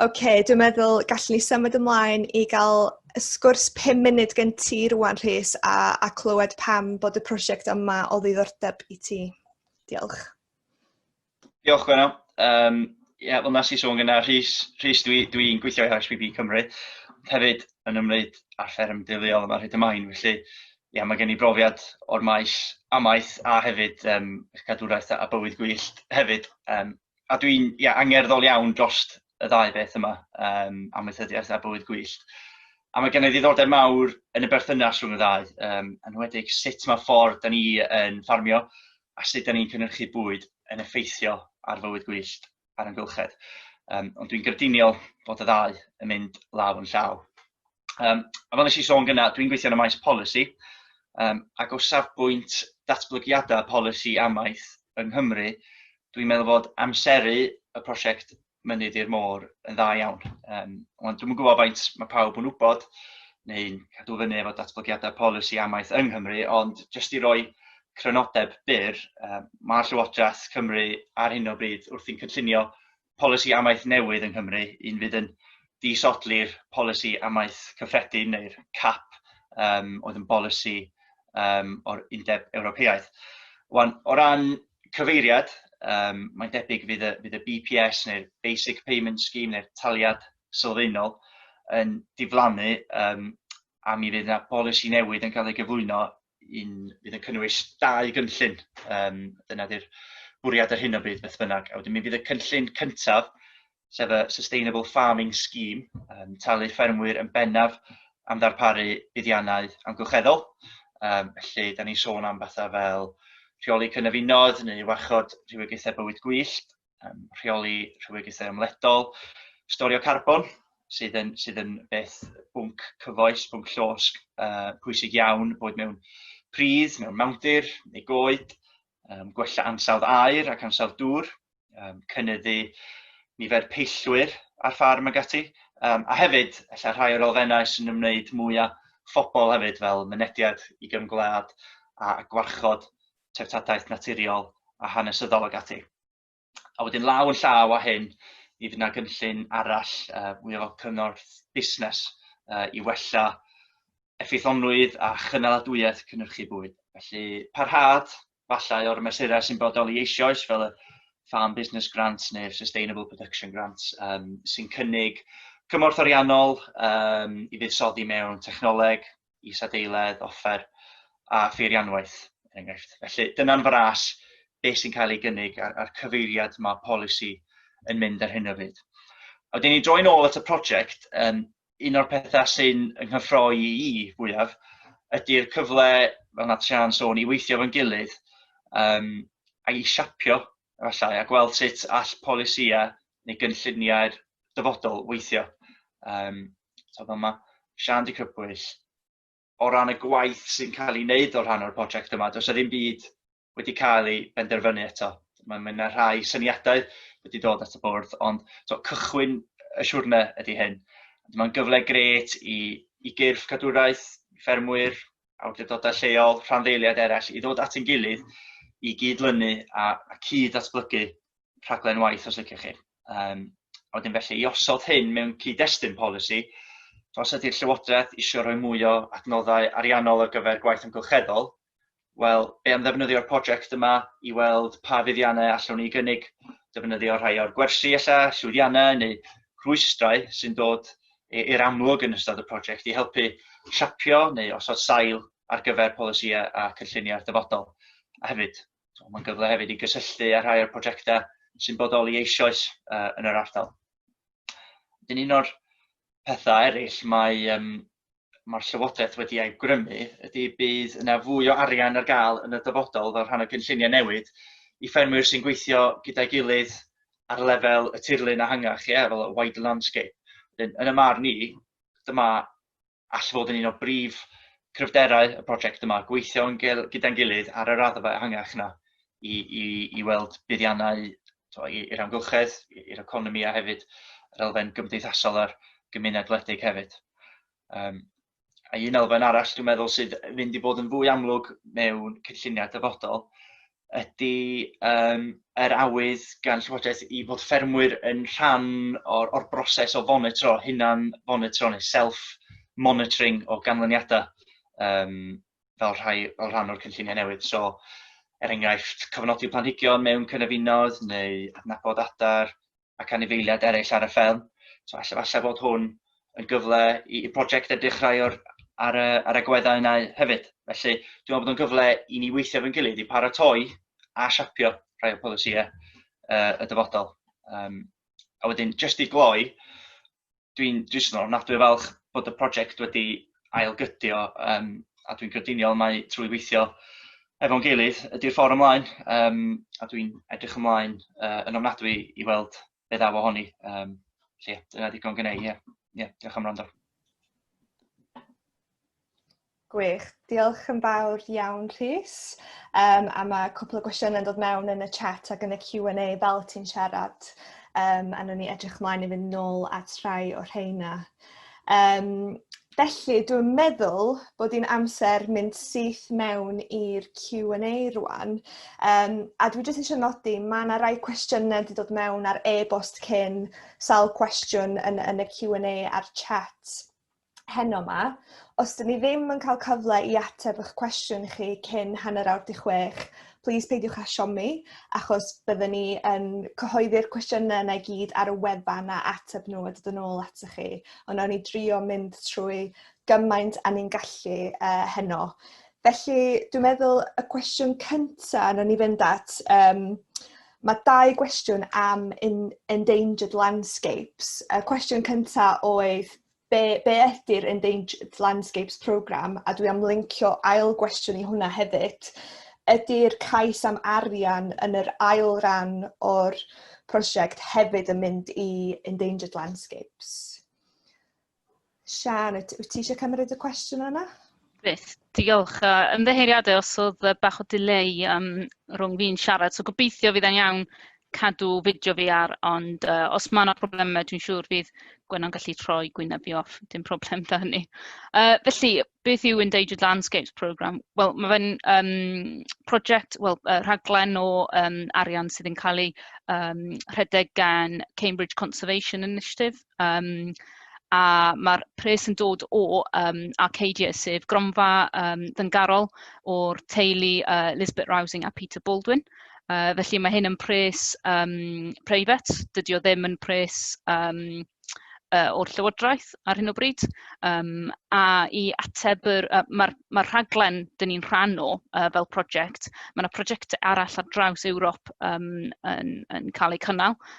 OK, dwi'n meddwl gallwn ni symud ymlaen i gael y sgwrs 5 munud gen ti rwan, Rhys, a, a clywed pam bod y prosiect yma o ddiddordeb i ti. Diolch.
Diolch, Gwenno. Um, Ie, yeah, fel nes i sôn gyda Rhys, Rhys dwi'n dwi, dwi gweithio i HPB Cymru, ond hefyd yn ymwneud â'r fferm deuluol yma rhaid ymlaen, felly ie, yeah, mae gen i brofiad o'r maes amaeth a hefyd um, cadwraeth a bywyd gwyllt hefyd. Um, a dwi'n ia, angerddol iawn dros y ddau beth yma, um, amaethyddiaeth a bywyd gwyllt. A mae gennyf ddiddordeb mawr yn y berthynas rhwng y ddau, um, yn wedig sut mae ffordd da ni yn ffarmio a sut da ni'n cynhyrchu bwyd yn effeithio ar fywyd gwyllt a'r ymgylchedd. Um, ond dwi'n grediniol bod y ddau yn mynd law yn llaw. Um, a fel nes i sôn gyna, dwi'n gweithio yn y maes polisi, um, ac o safbwynt datblygiadau polisi amaeth yng Nghymru, dwi'n meddwl fod amseru y prosiect Mynydd i'r Môr yn dda iawn. Um, ond dwi'n gwybod faint mae pawb yn wybod, neu'n cadw fyny efo datblygiadau polisi amaeth yng Nghymru, ond jyst i roi crynodeb byr, um, mae Llywodraeth Cymru ar hyn o bryd wrthi'n cynllunio polisi amaeth newydd yng Nghymru, un fydd yn disodli'r polisi amaeth cyffredin neu'r cap um, oedd yn bolisi um, o'r Undeb Ewropeaidd. Wan, o ran cyfeiriad, um, mae'n debyg fydd y, fydd y BPS neu'r Basic Payment Scheme neu'r taliad sylfaenol yn diflannu um, a mi fydd yna bolisi newydd yn cael ei gyflwyno un fydd yn cynnwys dau gynllun. Um, dyna di'r bwriad ar hyn o bryd beth bynnag. A wedyn mi fydd y cynllun cyntaf, sef y Sustainable Farming Scheme, um, talu ffermwyr yn bennaf am ddarparu buddiannau amgylcheddol. Um, felly, da ni'n sôn am bethau fel rheoli cynefinoedd neu warchod rhywogaethau bywyd gwyllt, um, rheoli rhywogaethau ymledol, storio carbon, sydd yn, sydd yn beth bwnc cyfoes, bwnc llosg, uh, pwysig iawn, bod mewn pridd, mewn mewndir neu goed, um, gwella ansawdd aer ac ansawdd dŵr, um, cynnyddu nifer peillwyr ar ffarm ag ati, um, a hefyd, efallai rhai o'r elfennau sy'n ymwneud mwy â phobl hefyd, fel mynediad i gymgwlad a gwarchod treftadaeth naturiol a hanesyddol ac ati. A wedyn law yn llaw â hyn, mi fydd yna gynllun arall uh, mwy o cyngorth busnes uh, i wella effeithlonrwydd a chynaladwyedd cynnyrchu bwyd. Felly parhad, falle o'r mesurau sy'n bodoli eisoes fel y Farm Business Grants neu'r Sustainable Production Grants um, sy'n cynnig cymorth ariannol um, i fuddsoddi mewn technoleg, isadeiledd, offer a pheirianwaith, er enghraifft. Felly, dyna'n fras beth sy'n cael ei gynnig a'r, ar cyfeiriad mae polisi yn mynd ar hyn o fyd. A wedyn ni droi'n ôl at y prosiect, um, un o'r pethau sy'n ynghyffroi i i fwyaf ydy'r cyfle, fel na Trian sôn, i weithio fo'n gilydd um, a i siapio, efallai, a gweld sut all polisiau neu gynlluniau'r dyfodol weithio. Um, So, fel mae Sian di crybwyll, o ran y gwaith sy'n cael ei wneud o rhan o'r prosiect yma, does ddim byd wedi cael ei benderfynu eto. Mae yna rhai syniadau wedi dod at y bwrdd, ond so, cychwyn y siwrne ydy hyn. Mae'n gyfle gret i, i gyrff cadwraeth, ffermwyr, awdurdodau lleol, rhanddeiliaid eraill i ddod at ein gilydd i gyd-lynu a, a cyd-atblygu rhaglen waith os liciwch chi. Um, a wedyn felly i osod hyn mewn cyd-destun polisi, os ydy'r Llywodraeth eisiau rhoi mwy o adnoddau ariannol ar gyfer gwaith amgylcheddol, wel, be am ddefnyddio'r prosiect yma i weld pa fuddiannau allwn ni gynnig defnyddio rhai o'r gwersi ella, llwyddiannau neu rhwystrau sy'n dod i'r amlwg yn ystod y prosiect i helpu siapio neu osod sail ar gyfer polisïau a cynlluniau'r dyfodol. A hefyd, mae'n gyfle hefyd i gysylltu â rhai o'r prosiectau sy'n bodoli eisoes uh, yn yr ardal. Dyn un o'r pethau eraill mae um, mae'r Llywodraeth wedi ei grymu ydy bydd yna fwy o arian ar gael yn y dyfodol fel rhan o gynlluniau newid i ffermwyr sy'n gweithio gyda'i gilydd ar lefel y tirlun ehangach, ie, fel y wide landscape. Yn, yn y mar ni, dyma all fod yn un o brif cryfderau y prosiect yma, gweithio yn gel, gyda'n gilydd ar y raddfa ehangach yna i, i, i weld buddiannau i'r amgylchedd, i'r economi a hefyd yr elfen gymdeithasol a'r gymuned wledig hefyd. Um, a un elfen arall dwi'n meddwl sydd fynd i fod yn fwy amlwg mewn cynlluniau dyfodol ydy yym yr awydd gan Llywodraeth i fod ffermwyr yn rhan o'r o'r broses o fonitro, hunan fonitro neu self monitoring o ganlyniadau um, fel rhai fel rhan o'r cynlluniau newydd. So, er enghraifft, cyfnodi planhigion mewn cynefinoedd neu adnabod adar, ac anifeiliaid eraill ar y fferm. So, alla, alla fod hwn yn gyfle i, i brosiect a dechrau o'r, ar, y, ar y gweddau yna hefyd. Felly, dwi'n meddwl bod o'n gyfle i ni weithio fe'n gilydd i paratoi a siapio rhai o polisïau uh, y dyfodol. Um, a wedyn, jyst i gloi, dwi'n dwi jyst yn ofnadwy o falch bod y prosiect wedi ailgydio um, a dwi'n grediniol mai trwy weithio efo'n gilydd ydy'r ffordd ymlaen um, a dwi'n edrych ymlaen uh, yn ofnadwy i weld be ddaw ohoni. Um, lle, dyna ddigon gynnau, ie. Yeah. Ie, yeah, diolch am rando.
Gwych. Diolch yn fawr iawn Rhys. Um, a mae cwpl o gwestiynau yn dod mewn yn y chat ac yn y Q&A fel ti'n siarad. Um, a nhw'n ni edrych mlaen i fynd nôl at rhai o rheina. Um, felly, dwi'n meddwl bod hi'n amser mynd syth mewn i'r Q&A rwan. Um, a dwi jyst eisiau nodi, mae yna rai cwestiynau wedi dod mewn ar e-bost cyn sawl cwestiwn yn, yn y Q&A a'r chat. heno 'ma. Os 'dyn ni ddim yn cael cyfle i ateb eich cwestiwn chi cyn hanner awr 'di chwech, plîs peidiwch â siomi, achos bydden ni yn cyhoeddi'r cwestiynau yna i gyd ar y wefan a ateb nhw a dod yn ôl atoch chi. Ond nawn ni drio mynd trwy gymaint a ni'n gallu uh, heno. Felly, dwi'n meddwl y cwestiwn cyntaf nawn ni fynd at... Um, Mae dau gwestiwn am in, endangered landscapes. Y cwestiwn cyntaf oedd be, be ydy'r Endangered Landscapes Programme, a dwi am lincio ail gwestiwn i hwnna hefyd, ydy'r cais am arian yn yr ail ran o'r prosiect hefyd yn mynd i Endangered Landscapes? Sian, wyt ti eisiau cymryd y cwestiwn yna? Byth.
Diolch. A ymddiheuriadau os oedd yy bach o delay yym rhwng fi'n siarad, so gobeithio fydd e'n iawn cadw fideo fi ar, ond yy os ma' 'na problemau dwi'n siŵr fydd Gwenno'n gallu troi gwyneb fi off, dim problem 'da hynny. Yy felly, beth yw Endangered Landscapes Programme? Wel ma' fe'n yym project, wel yy rhaglen o yym arian sydd yn cael ei yym rhedeg gan Cambridge Conservation Initiative. yym a ma'r pres yn dod o yym Arcadia, sef gronfa yym ddyngarol o'r teulu yy Lisbeth Rousing a Peter Baldwin. Yy felly mae hyn yn pres yym preifat, dydy o ddim yn pres yym yy o'r Llywodraeth ar hyn o bryd. Yym a i ateb yr yy ma'r ma'r rhaglen 'dyn ni'n rhan o yy fel prosiect, ma' 'na prosiectau arall ar draws Ewrop yym yn yn cael eu cynnal.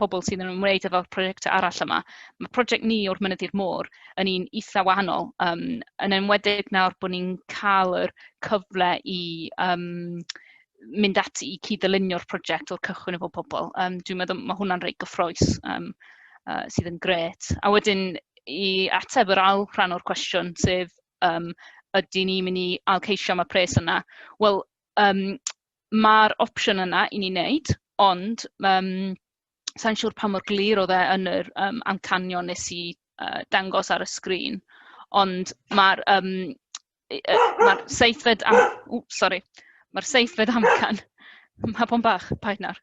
pobl sydd yn ymwneud efo prosiectau arall yma. Mae prosiect ni o'r Mynydd i'r Môr yn un eitha wahanol, um, yn enwedig nawr bod ni'n cael yr cyfle i um, mynd ati i cyd-ddylunio'r prosiect o'r cychwyn efo pobl. Um, dwi'n meddwl mae hwnna'n reit gyffroes um, uh, sydd yn gret. A wedyn i ateb yr ail rhan o'r cwestiwn, sef um, ydy ni'n mynd i alceisio am y pres yna? Wel, um, ma'r opsiwn yna i ni wneud, ond yym sa i'n siŵr pa mor glir oedd e yn yr yym amcanion wnes i yy dangos ar y sgrîn, ond ma'r yym yy ma'r seithfed am- w sori ma'r seithfed amcan ma' bo'n bach, paid nawr,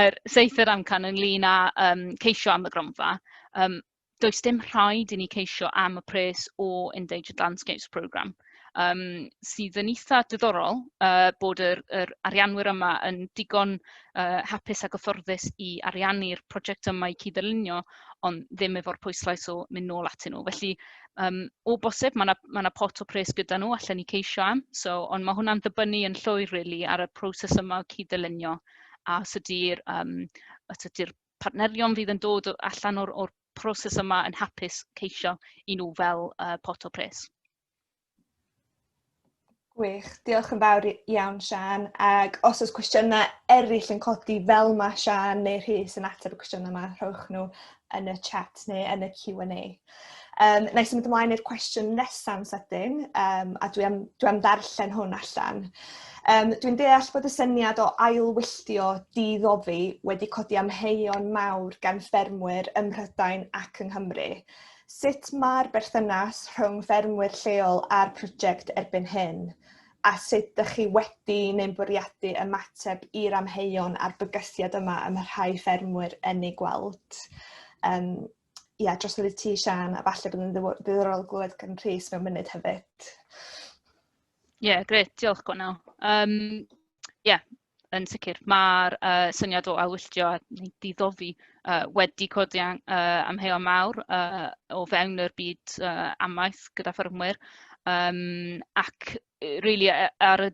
yr seithfed amcan ynglyn â yym ceisio am y gronfa yym... does dim rhaid i ni ceisio am y pres o Endangered Landscapes Programme, um, sydd yn eitha diddorol uh, bod yr, yr arianwyr yma yn digon uh, hapus a gyfforddus i ariannu'r prosiect yma i cyd-ddylunio, ond ddim efo'r pwyslais o mynd nôl atyn nhw. Felly, um, o bosib, mae yna ma, na, pot o pres gyda nhw allan ni ceisio am, so, ond mae hwnna'n dibynnu yn llwyr really, ar y proses yma o cyd-ddylunio a os ydy'r um, partnerion fydd yn dod allan o'r, or proses yma yn hapus ceisio i nhw fel uh, pot o pres. Gwych,
diolch yn fawr iawn Sian, ac os oes cwestiynau eraill yn codi fel mae Sian neu Rhys yn ateb y cwestiynau yma, rhowch nhw yn y chat neu yn y Q&A. Um, na i symud ymlaen i'r cwestiwn nesaf yn sydyn, um, a dwi am, dwi am ddarllen hwn allan. Um, dwi'n deall bod y syniad o ailwylltio diddofi wedi codi amheuon mawr gan ffermwyr ym Mhrydain ac yng Nghymru. Sut mae'r berthynas rhwng ffermwyr lleol a'r prosiect erbyn hyn? A sut ydych chi wedi neu'n bwriadu ymateb i'r amheuon a'r bygythiad yma ym rhai ffermwyr yn ei gweld? Um, ie, dros wedi ti, Sian, a falle bod yn ddiddorol glywed gan Rhys mewn munud hefyd. Ie,
yeah, gret, diolch Gwenno. Um, yeah, yn sicr, mae'r uh, syniad o ailwylltio a diddofi uh, wedi codi uh, amheuon mawr uh, o fewn yr byd uh, amaeth gyda ffermwyr. Um, ac really, ar y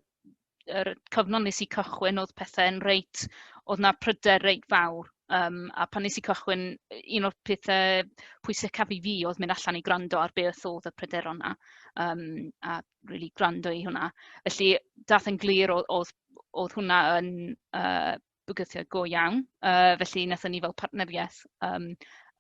yr cyfnod nes i cychwyn oedd pethau'n reit, oedd na pryder reit fawr. Um, a pan nes i cychwyn, un o'r pethau pwysicaf i fi oedd mynd allan i gwrando ar beth oedd y pryder o'na, um, a really gwrando i hwnna. Felly, dath yn glir oedd, oedd, oedd hwnna yn uh, bygythiad go iawn. Uh, felly, wnaethon ni fel partneriaeth um,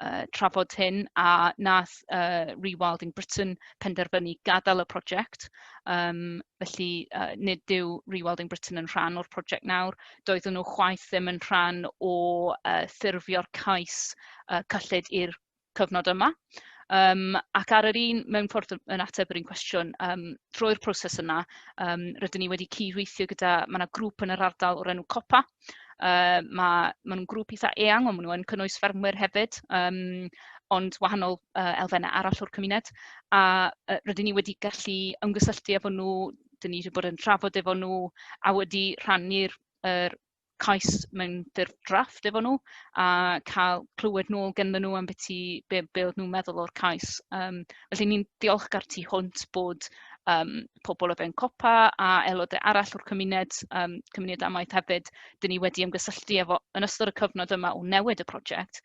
uh, trafod hyn a nath uh, Rewilding Britain penderfynu gadael y prosiect. Um, felly, uh, nid yw Rewilding Britain yn rhan o'r prosiect nawr. Doeddwn nhw chwaith ddim yn rhan o uh, ffurfio'r cais uh, cyllid i'r cyfnod yma. Um, ac ar yr un, mewn ffordd yn ateb yr un cwestiwn, um, trwy'r proses yna, um, rydyn ni wedi cydweithio gyda, mae yna grŵp yn yr ardal o'r enw COPA, uh, mae ma nhw'n grŵp eitha eang, ond maen nhw'n cynnwys ffermwyr hefyd, um, ond wahanol uh, elfennau arall o'r cymuned, a uh, rydyn ni wedi gallu ymgysylltu efo nhw, dyn ni wedi bod yn trafod efo nhw, a wedi rhannu'r er, cais mewn ffurf drafft efo nhw a cael clywed nôl genddyn nhw am beth ti, be, be oedd nhw'n meddwl o'r cais. Um, felly ni'n diolchgar tu hwnt bod um, pobl o fewn COPA a aelodau arall o'r cymuned, um, cymuned amaeth hefyd, dyn ni wedi ymgysylltu efo yn ystod y cyfnod yma o newid y prosiect.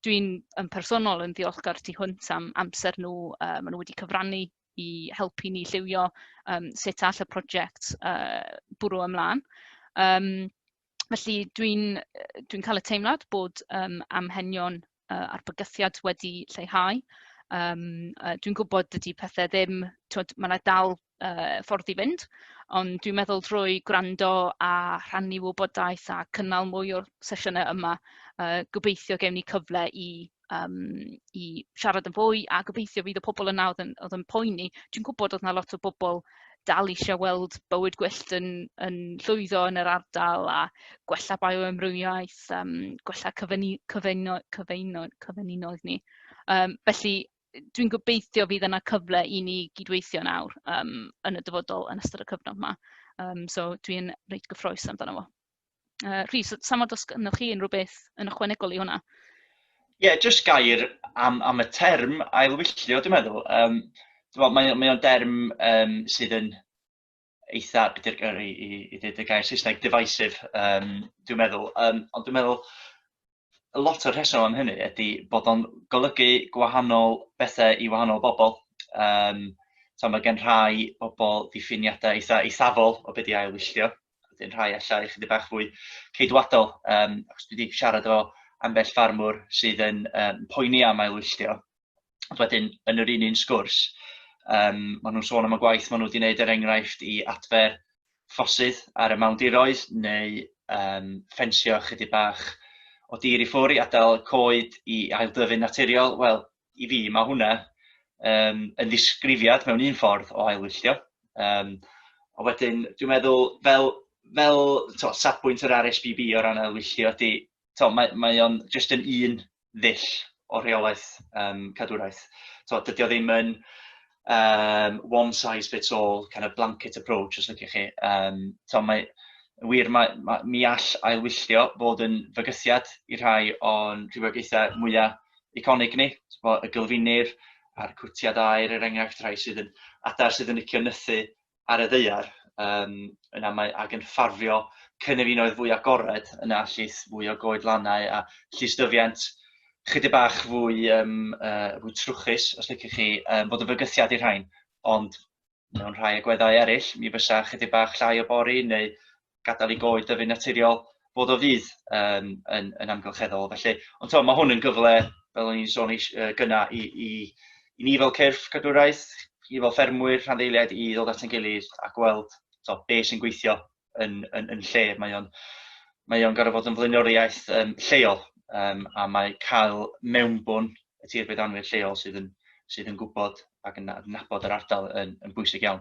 Dwi'n yn personol yn ddiolchgar tu hwnt am amser nhw, uh, maen nhw wedi cyfrannu i helpu ni lliwio um, sut all y prosiect uh, bwrw ymlaen. Um, felly dwi'n dwi cael y teimlad bod um, amhenion uh, a'r bygythiad wedi lleihau. Um, uh, dwi'n gwybod dydy pethau ddim, twyd, mae yna dal uh, ffordd i fynd, ond dwi'n meddwl drwy gwrando a rhannu wybodaeth a cynnal mwy o'r sesiynau yma, uh, gobeithio gewn ni cyfle i yym i siarad yn fwy, a gobeithio fydd y pobl yna oedd yn oedd yn poeni. Dwi'n gwybod oedd 'na lot o bobl dal eisiau gweld bywyd gwyllt yn yn llwyddo yn yr ardal a gwella bioamrywiaeth, yym gwella cyfyngu- cyfyngu- cyfyngu- cyfyngunoedd ni. Yym felly, dwi'n gobeithio fydd yna cyfle i ni gydweithio nawr yym yn y dyfodol yn ystod y cyfnod 'ma. Yym so dwi'n reit gyffrous amdano fo. Uh, Rhys, sam os gynnwch chi unrhyw beth yn ychwanegol i hwnna? Ie, yeah, jyst
gair am, am y term ailwylltio, dwi'n meddwl. Um, dwi'n meddwl, mae, o'n derm um, sydd yn eitha, beth i, i, i ddweud y gair Saesneg, divisive, um, dwi'n meddwl. Um, ond dwi'n meddwl, lot o'r rheswm am hynny ydy bod o'n golygu gwahanol bethau i wahanol bobl. Um, so mae gen rhai bobl diffiniadau eitha eithafol o beth i ailwylltio. Wedyn rhai allai chydig bach fwy ceidwadol. Um, achos dwi wedi siarad efo ambell farmwr sydd yn um, poeni am ailwylltio. Ond wedyn, yn yr un un sgwrs, um, maen nhw'n sôn am y gwaith maen nhw wedi gwneud er enghraifft i adfer ffosydd ar y mawndiroedd neu um, ffensio chydig bach o dir i ffwr i adael coed i aildyfu'n naturiol. Wel, i fi mae hwnna um, yn ddisgrifiad mewn un ffordd o ailwylltio. Um, a wedyn, dwi'n meddwl, fel, fel to, safbwynt yr RSBB o ran ailwylltio, di, to, mae, mae o'n jyst yn un ddull o rheolaeth um, cadwraeth. To, dydy o ddim yn um, one size fits all, kind of blanket approach, os ydych chi. Um, to, mae, wir, mae, mae, mi all ailwylltio fod yn fygythiad i rhai o'n rhywogaethau mwyaf iconig ni, y gylfinir a'r cwtiad aer er enghraifft rhai sydd yn adar sydd yn licio nythu ar y ddaear, um, yna mae ag yn ffafrio cynefinoedd fwy agored, yna llys fwy o goedlannau a llystyfiant chydig bach fwy, um, uh, fwy trwchus, os liciwch chi, um, bod yn fygythiad i'r rhain. Ond mewn rhai agweddau eraill, mi fysa chydig bach llai o bori neu gadael i goed dyfu'n naturiol, bod o fydd um, yn, yn amgylcheddol. Felly, ond to, mae hwn yn gyfle, fel o'n i'n sôn eis, uh, gyna, i, i, i ni fel cyrff cadwraeth, i fel ffermwyr, rhanddeiliaid, i ddod at yn gilydd a gweld to, be sy'n gweithio yn, yn, yn lle. Mae o'n mae o'n gorfod fod yn flaenoriaeth um, lleol um, a mae cael mewnbwn y tir byddanwyr lleol sydd yn, sydd yn gwybod ac yn adnabod yr ardal yn, yn bwysig iawn.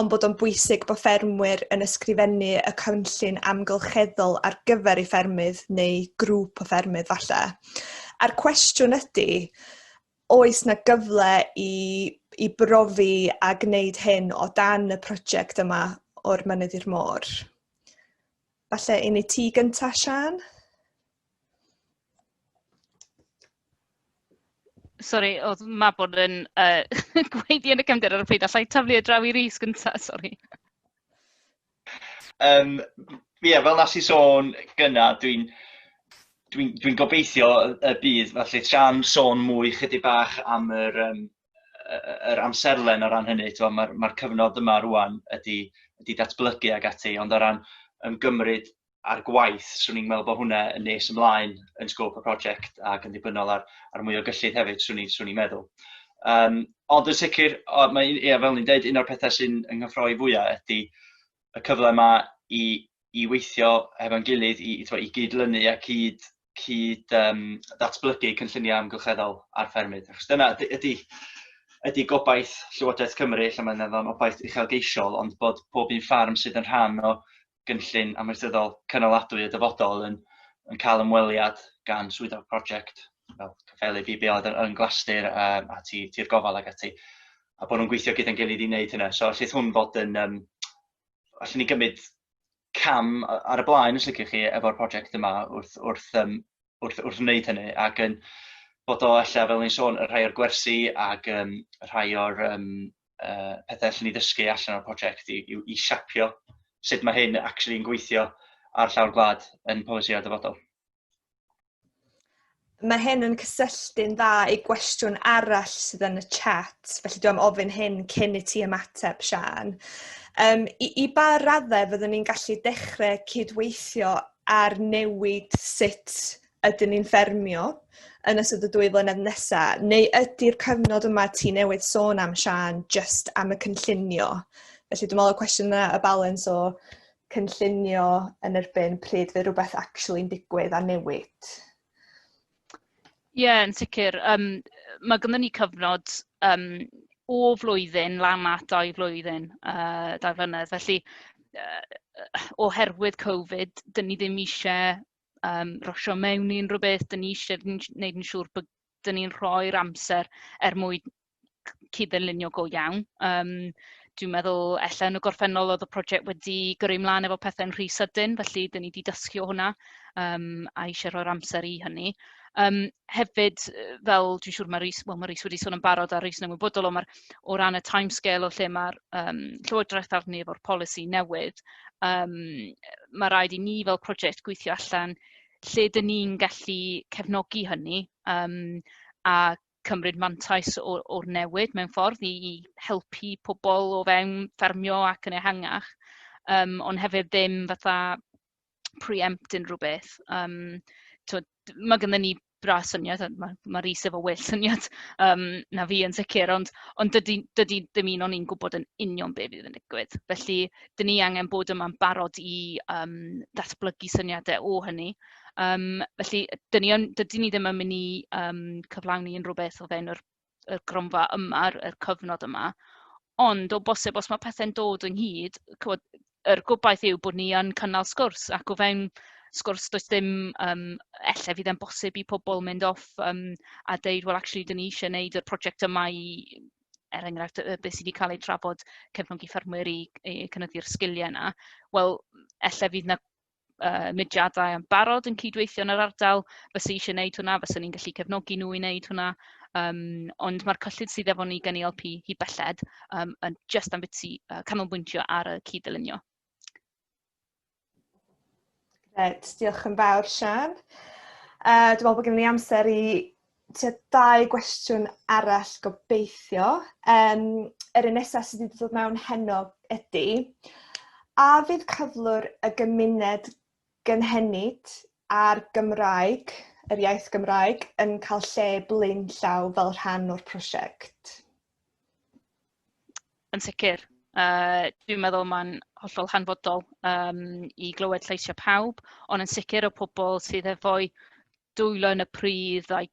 ond bod o'n bwysig bod ffermwyr yn ysgrifennu y cynllun amgylcheddol ar gyfer ei ffermydd neu grŵp o ffermydd falle. A'r cwestiwn ydy, oes na gyfle i, i brofi a gwneud hyn o dan y prosiect yma o'r mynydd i'r môr? Falle un i ti gyntaf, Sian?
Sori, oedd Mabon yn yy gweiddi yn y cefndir ar y pryd, alla i taflu e draw i Rhys gynta, sori. Um, ie,
yeah, fel nes i sôn gyna, dwi'n dwi, dwi gobeithio y bydd, felly tra'n sôn mwy chydig bach am yr, um, yr amserlen o ran hynny, mae'r ma cyfnod yma rwan ydy, ydy datblygu ag ati, ond o ran ymgymryd ar gwaith, swn i'n meddwl bod hwnna yn nes ymlaen yn sgôp y prosiect ac yn ddibynnol ar, ar mwy o gyllid hefyd, swn i'n swn i'n meddwl. Um, ond yn sicr, o, mae, ia, fel ni'n dweud, un o'r pethau sy'n ynghyffroi fwyaf ydy y cyfle yma i, i weithio hefo'n gilydd, i, i, i gyd-lynu a cyd, cyd um, datblygu cynlluniau amgylcheddol ar ffermydd. Achos dyna ydy, ydy, ydy gobaith Llywodraeth Cymru, lle mae'n obaith uchelgeisiol, ond bod pob un ffarm sydd yn rhan o gynllun amaethyddol cynaladwy y dyfodol yn, yn cael ymweliad gan swyddog prosiect fel cyfelu BBO yn Glastir a, a tir, tir gofal ac ati a bod nhw'n gweithio gyda'n gilydd i wneud hynna. So allith hwn fod yn, um, allwn ni gymryd cam ar y blaen os ydych chi efo'r prosiect yma wrth, wrth, um, wrth, wrth wneud hynny ac yn bod o allan fel ni'n sôn y rhai o'r gwersi ac um, rhai o'r um, uh, pethau allan ni ddysgu allan o'r prosiect i, i, i siapio sut mae hyn actually yn gweithio ar llawr gwlad yn polisi a dyfodol.
Mae hyn yn cysylltu'n dda i gwestiwn arall sydd yn y chat, felly dwi'n ofyn hyn cyn i ti ymateb, Sian. Um, i, I ba raddau fyddwn ni'n gallu dechrau cydweithio ar newid sut ydyn ni'n ffermio yn ystod y dwy flynedd nesaf, neu ydy'r cyfnod yma ti newydd sôn am Sian just am y cynllunio? Felly dwi'n meddwl y cwestiwn yna y balans o cynllunio yn erbyn pryd fe rhywbeth actually'n digwydd a newid.
Ie, yeah, yn sicr. Um, mae gynnu ni cyfnod um, o flwyddyn lan at dau flwyddyn, uh, dau flynedd. Felly, uh, oherwydd Covid, dyn ni ddim eisiau um, rosio mewn i unrhyw beth, dyn ni eisiau gwneud yn siŵr bod dyn ni'n rhoi'r amser er mwyn cyd-dderlunio go iawn. Um, dwi'n meddwl, ella yn y gorffennol oedd y prosiect wedi gyrru ymlaen efo pethau'n rhy sydyn, felly dyn ni wedi dysgu o hwnna um, a eisiau rhoi'r amser i hynny. Yym, hefyd, fel dwi'n siŵr mae Rhys, wel mae Rhys wedi sôn yn barod a Rhys yn ymwybodol o, mae'r o ran y timescale o lle mae'r yym Llywodraeth arni efo'r polisi newydd, yym, mae rhaid i ni fel prosiect gweithio allan lle dyn ni'n gallu cefnogi hynny yym, a cymryd mantais o, o'r newid mewn ffordd i, i helpu pobl o fewn ffermio ac yn ehangach, um, ond hefyd ddim fatha pre-empt unrhyw beth. Yym tibod, ma' gynnon ni braidd syniad, ma' ma' Reece efo well syniad yym na fi yn sicr, ond ond dydy dydy dim un o ni'n gwybod yn union be fydd yn digwydd. Felly, dan ni angen bod yma'n barod i yym ddatblygu syniadau o hynny. Yym felly, dan ni yn... dydyn ni ddim yn mynd i yym cyflawni unrhyw beth o fewn yr y gronfa yma, y cyfnod yma. Ond o bosib, os mae pethau'n dod ynghyd, cywod, yr gobaith yw bod ni yn cynnal sgwrs ac o fewn sgwrs does dim, um, ella fydd e'n bosib i pobl mynd off um, a deud, well actually, dyn ni eisiau gwneud y prosiect yma i, er enghraifft, y beth sydd wedi cael ei trafod cefnogi ffermwyr i, i cynyddu'r sgiliau yna. Wel, ella fydd yna uh, mudiadau yn barod yn cydweithio yn yr ardal fysa eisiau gwneud hwnna, fysa ni'n gallu cefnogi nhw i wneud hwnna. Um, ond mae'r cyllid sydd efo ni gen i LP hi belled um, yn just am biti uh, canolbwyntio ar y cyd-ddylunio.
Gret, diolch yn fawr, Sian. Uh, dwi'n meddwl bod gen i amser i tua dau gwestiwn arall gobeithio. Um, yr un nesaf sydd wedi dod mewn heno ydy, a fydd cyflwr y gymuned gynhenid a'r Gymraeg, yr iaith Gymraeg, yn cael lle blaen llaw fel rhan o'r prosiect?
Yn sicr. Uh, dwi'n meddwl mae'n hollol hanfodol um, i glywed lleisiau pawb, ond yn sicr o pobl sydd efo'i dwylo yn y pridd a'i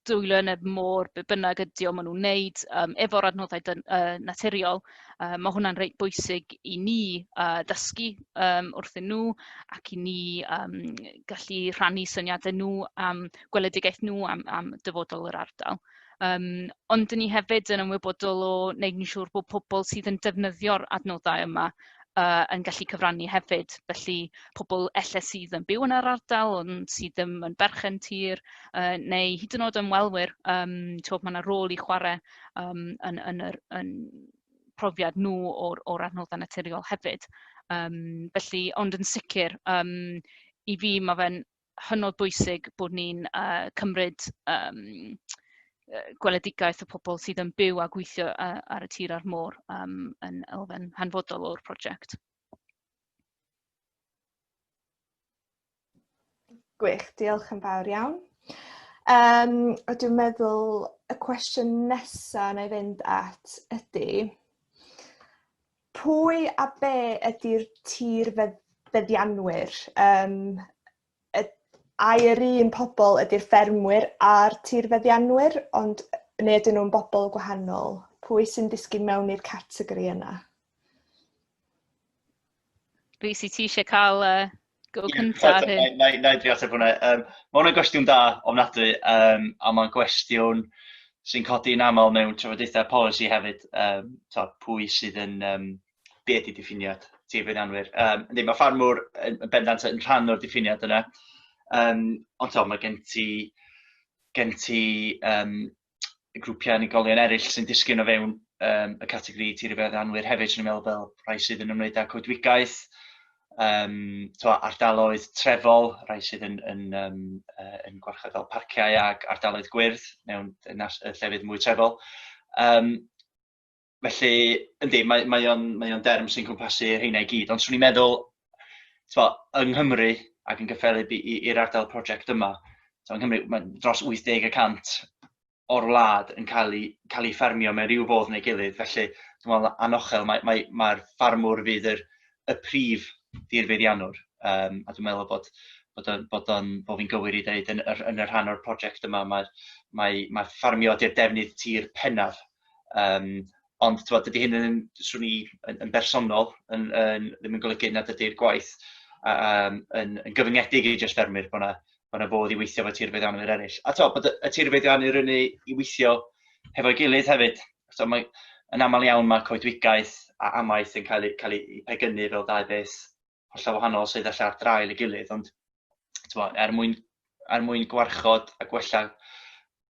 dwylo yn y môr, be bynnag ydy o, maen nhw'n wneud um, efo'r adnoddau dyn, uh, naturiol. Uh, mae hwnna'n reit bwysig i ni uh, ddysgu um, wrthyn nhw ac i ni um, gallu rhannu syniadau nhw am gweledigaeth nhw, am, am dyfodol yr ardal. Yym, ond 'dyn ni hefyd yn ymwybodol o wneud yn siŵr bod pobl sydd yn defnyddio'r adnoddau yma yy yn gallu cyfrannu hefyd. Felly, pobl ella sydd yn byw yn yr ardal ond sydd ddim yn berchen tir yy neu hyd yn oed ymwelwyr yym timod ma' 'na rôl i chwarae yym yn yn yr yn profiad nhw o'r o'r adnoddau naturiol hefyd yym felly... ond yn sicr yym i fi ma' fe'n hynod bwysig bod ni'n uh, cymryd um, gweledigaeth y pobl sydd yn byw a gweithio uh, ar y tir a'r môr um, yn elfen hanfodol o'r prosiect.
Gwych, diolch yn fawr iawn. Um, a dwi'n meddwl y cwestiwn nesaf na i fynd at ydy, Pwy a be ydy'r tir fedd- feddianwyr? Yym y- ai yr un pobl ydy'r ffermwyr a'r tir feddianwyr ond yy neu ydyn nhw'n bobl gwahanol? Pwy sy'n disgyn mewn i'r categori yna?
Lucy, ti eisiau cael uh, Go cynta ar hyn. Na i drio ateb hwnna.
Um, mae hwnna'n gwestiwn da ofnadwy, um, a mae'n gwestiwn sy'n codi yn aml mewn trafodaethau polisi hefyd, um, to, pwy sydd yn, um, be ydy diffiniad tir feddianwyr. Um, ynddi, mae ffarmwr yn, yn bendant yn rhan o'r diffiniad yna, um, ond to, mae gen ti, gen ti um, y grwpiau unigolion eraill sy'n disgyn o fewn um, y categori tirfedd anwyr hefyd, sy'n meddwl fel rhai sydd yn ymwneud â coedwigaeth, um, to, ardaloedd trefol, rhai sydd yn, yn, um, uh, yn gwarchod fel parciau ac ardaloedd gwyrdd mewn y llefydd mwy trefol. Um, felly, yndi, mae, mae o'n mae o'n derm sy'n cwmpasu rheina i gyd, ond swn i'n meddwl, twa, yng Nghymru ac yn gyffelyb i'r ardal prosiect yma, twa, yng Nghymru, mae dros 80 y cant o'r wlad yn cael ei, cael ei ffermio mewn rhyw fodd neu gilydd, felly dwi'n meddwl anochel, mae'r mae, mae, mae ffarmwr fydd yr, y prif ddirfeiddianwr, um, a dwi'n meddwl bod bod o'n bod o'n bod fi'n gywir i ddeud yn, yn y rhan o'r prosiect yma mae'r mae mae ffarmio di'r defnydd tir pennaf Yym, ond t'mod dydy hyn yn, 'swn i, yn yn bersonol yn yn ddim yn golygu nad ydy'r gwaith a- a- yym yn yn gyfyngedig i jyst ffermwyr, bod 'na bod 'na fodd i weithio efo tir feddianwyr eraill. A t'mod bod y y tir feddianwyr yn eu i weithio hefo'i gilydd hefyd. So mae yn aml iawn mae coedwigaeth a amaeth yn cael eu cael eu pegynnu fel dau beth hollol wahanol sydd allan ar draul ei gilydd, ond twa, er, mwyn, er mwyn gwarchod a gwella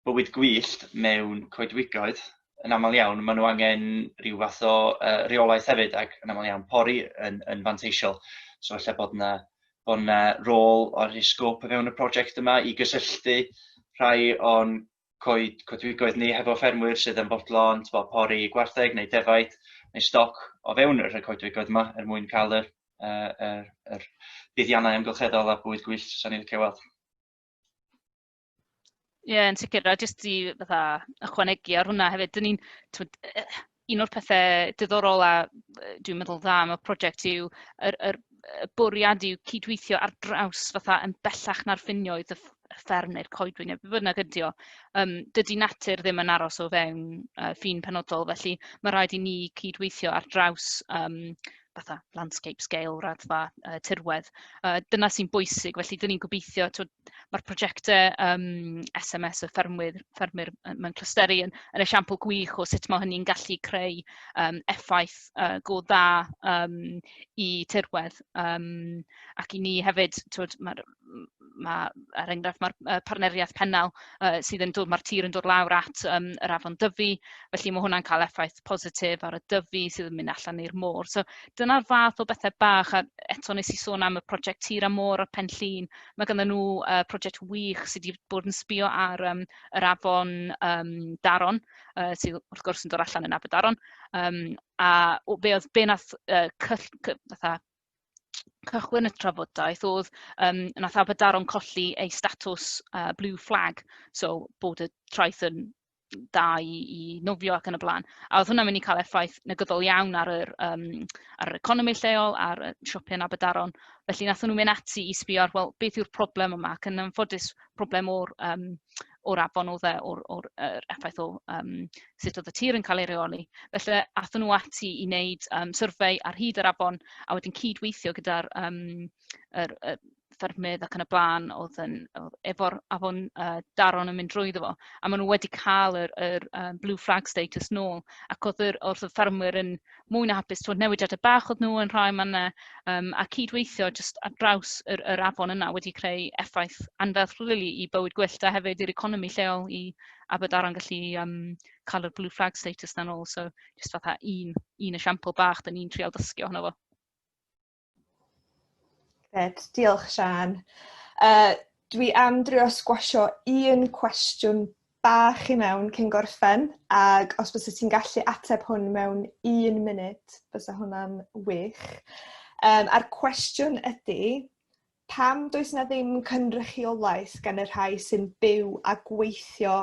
bywyd gwyllt mewn coedwigoedd, yn aml iawn, maen nhw angen rhyw fath o uh, reolaeth hefyd, ac yn aml iawn pori yn, yn fanteisiol. So efallai bod yna bod yna rôl o'r sgôp o fewn y prosiect yma i gysylltu rhai o'n coed coedwigoedd ni hefo ffermwyr sydd yn bodlon tbo, pori gwartheg neu defaid neu stoc o fewn y rhai coedwigoedd yma er mwyn cael yr, uh, yr, yr buddiannau amgylcheddol a bwyd gwyllt sy'n ni'n licio weld.
Ie, yn sicr. A jyst i fatha, ychwanegu ar hwnna hefyd, dyn ni'n... un o'r pethe diddorol a dwi'n meddwl dda am y prosiect yw yr yr y bwriad yw cydweithio ar draws fatha yn bellach na'r ffinioedd y fferm neu'r coedwig neu be' bynnag ydi o. Yym dydy natur ddim yn aros o fewn yy ffin penodol, felly ma' raid i ni cydweithio ar draws yym fatha landscape scale, raddfa yy tirwedd. Yy dyna sy'n bwysig, felly 'dyn ni'n gobeithio tibod mae'r prosiectau um, SMS y ffermwyr, ffermwyr mewn clysteru yn, yn esiampl gwych o sut mae hynny'n gallu creu um, effaith uh, go dda um, i tirwedd. Um, ac i ni hefyd, twyd, mae'r ma, er enghraifft, mae'r uh, partneriaeth pennau uh, sydd yn dod, mae'r tir yn dod lawr at um, yr afon dyfu, felly mae hwnna'n cael effaith positif ar y dyfu sydd yn mynd allan i'r môr. So dyna'r fath o bethau bach, a eto nes i sôn am y prosiect tir a môr a pen llun, Mae ganddyn nhw yy project wych sy' 'di bod yn sbio ar yym yr afon yym Daron, yy sy wrth gwrs yn dod allan yn Aberdaron, yym a o- be oedd be wnaeth yy cyll- cy- fatha cychwyn y trafodaeth oedd yym wnaeth Aberdaron colli ei statws yy blue flag, so bod y traeth yn da i i nofio ac yn y blaen. A oedd hwnna'n mynd i cael effaith negyddol iawn ar yr yym ar yr economi lleol, ar y siopau yn Abadaron. Felly wnaethon nhw mynd ati i sbio ar, wel, beth yw'r problem yma, ac yn anffodus problem o'r yym o'r afon oedd e, o'r o'r yr effaith o yym sut oedd y tir yn cael ei reoli. Felly aethon nhw ati i wneud yym survey ar hyd yr afon a wedyn cyd-weithio gyda'r yym yr yy ffermydd ac yn y blaen oedd yn oedd efo'r afon uh, daron yn mynd drwyddo fo a maen nhw wedi cael yr, yr um, blue flag status nôl ac oedd yr, oedd y ffermwyr yn mwy na hapus twyd newidiadau bach oedd nhw yn rhai manna um, a cydweithio jyst ar draws yr, yr afon yna wedi creu effaith anferth really, i bywyd gwyllt a hefyd i'r economi lleol i Aberdaron gallu um, cael yr blue flag status na'n ôl so jyst fatha un, un esiampl bach dyn ni'n trial dysgu ohono fo.
Gret, diolch Sian. Uh, dwi am drio sgwasio un cwestiwn bach i mewn cyn gorffen, ac os bys ti'n gallu ateb hwn mewn un munud, bys hwnna'n wych. Um, a'r cwestiwn ydy, pam does na ddim cynrychiolaeth gan y rhai sy'n byw a gweithio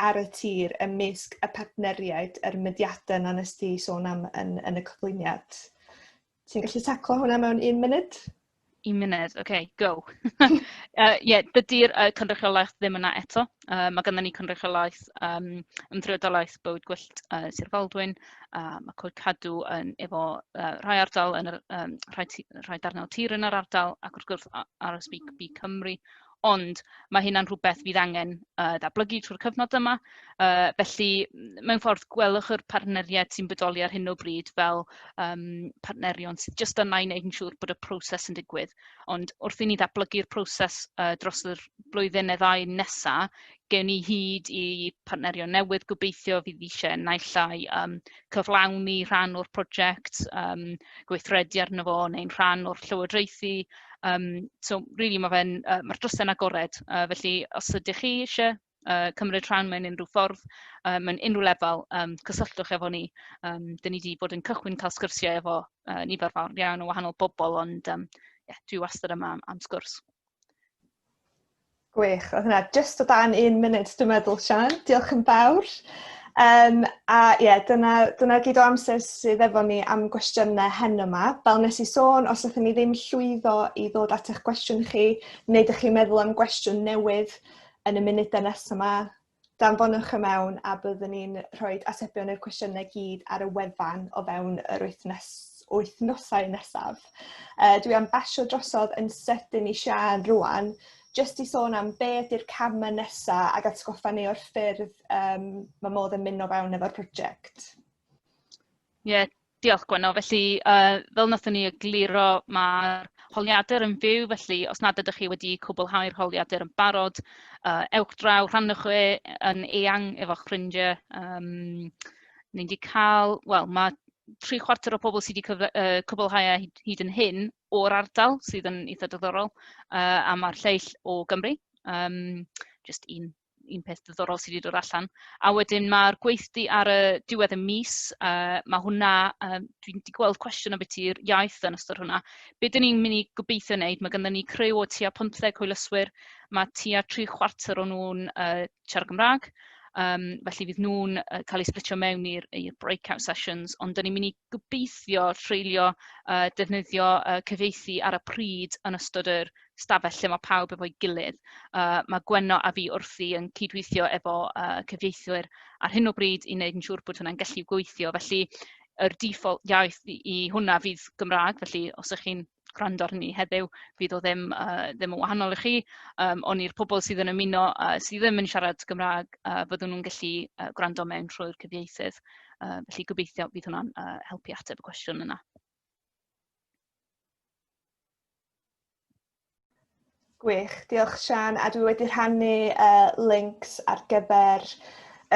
ar y tir ymysg y partneriaid yr mydiadau na nes di sôn am yn, yn y cyflwyniad? Ti'n gallu taclo hwnna mewn un munud? Un munud,
oce, okay, go. Ie, uh, yeah, dydy'r uh, cynrychiolaeth ddim yna eto. Uh, mae gennym ni cynrychiolaeth um, ymdreidolaeth bywyd gwyllt uh, Sir Faldwyn. Uh, mae Coed Cadw yn efo uh, rhai ardal, yn yr, um, rhai, rhai darnau tir yn yr ardal, ac wrth gwrs RSB Cymru. Ond mae hynna'n rhywbeth fydd angen uh, ddatblygu trwy'r cyfnod yma. Uh, felly, mewn ffordd, gwelwch yr partneriaid sy'n bodoli ar hyn o bryd fel um, partnerion sydd jyst yna i wneud yn siŵr bod y proses yn digwydd. Ond wrth i ni ddatblygu'r proses uh, dros yr blwyddyn neu ddau nesaf, gewn ni hyd i partnerion newydd gobeithio fydd eisiau naill llai um, cyflawni rhan o'r prosiect, um, gweithredu arno fo neu'n rhan o'r llywodraethu. Um, so, really, mae fe'n, uh, mae'r drysau'n agored. Uh, felly, os ydych chi eisiau uh, cymryd rhan mewn unrhyw ffordd, uh, mewn unrhyw lefel, um, cysylltwch efo ni. Um, Dyna ni wedi bod yn cychwyn cael sgyrsiau efo uh, nifer fawr iawn o wahanol bobl, ond um, yeah, dwi wastad yma am, am sgwrs.
Gwych, oedd hwnna jyst o dan un munud dwi'n meddwl Sian, diolch yn fawr. Um, a ie, yeah, dyna, dyna gyd o amser sydd efo ni am gwestiynau hen yma. Fel nes i sôn, os ydych ni ddim llwyddo i ddod at eich gwestiwn chi, neu ydych chi'n meddwl am gwestiwn newydd yn y munudau nes yma, danfonwch y mewn a byddwn ni'n rhoi atebion i'r cwestiynau gyd ar y wefan o fewn yr wythnos, wythnosau nesaf. Uh, dwi am basio drosodd yn sydyn i Sian rwan, jyst i sôn am be ydy'r camau nesaf ac atgoffa ni o'r ffyrdd um, mae modd yn mynd o fewn efo'r prosiect. Ie, yeah,
Diolch Gwenno. Felly yy fel wnaethon ni egluro ma'r holiadur yn fyw felly os nad ydych chi wedi cwblhau'r holiadur yn barod yy ewch draw rhannwch e yn eang efo'ch ffrindiau yym ni wedi cael wel ma' tri chwarter o pobl sy' wedi cyf- yy cwblhau e hyd hyd yn hyn o'r ardal sydd yn eitha' diddorol yy a ma'r lleill o Gymru yym jyst un un peth diddorol sydd wedi dod allan. A wedyn mae'r gweithdy ar y diwedd y mis, uh, mae hwnna, uh, dwi wedi gweld cwestiwn am beth i'r iaith yn ystod hwnna. Be dyn ni'n mynd i gobeithio wneud, mae gennym ni crew o tua 15 hwylyswyr, mae tua tri chwarter o nhw'n uh, siarad Gymraeg, Um, felly fydd nhw'n uh, cael eu splitio mewn i'r breakout sessions, ond dyn ni'n mynd i gobeithio treulio uh, defnyddio uh, cyfeithi ar y pryd yn ystod yr stafell lle mae pawb efo'i gilydd. Uh, mae Gwenno a fi wrthi yn cydweithio efo uh, cyfieithwyr ar hyn o bryd i wneud yn siŵr bod hwnna'n gallu gweithio. Felly, yr default iaith i, i hwnna fydd Gymraeg, felly os ych chi'n gwrando ar hynny heddiw, fydd o ddim, uh, ddim yn wahanol i chi. Um, ond i'r pobl sydd yn ymuno uh, sydd ddim yn siarad Gymraeg, uh, fyddwn nhw'n gallu uh, gwrando mewn trwy'r cyfieithydd. Uh, felly gobeithio bydd hwnna'n uh, helpu ateb y cwestiwn yna.
Gwych, diolch Sian, a dwi wedi rhannu uh, links ar gyfer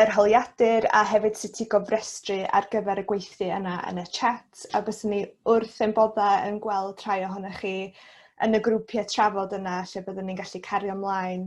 yr holiadur a hefyd sut i gofrestru ar gyfer y gweithdy yna yn y chat a bys ni wrth ein bodda yn gweld rhai ohonych chi yn y grwpiau trafod yna lle byddwn ni'n gallu cario ymlaen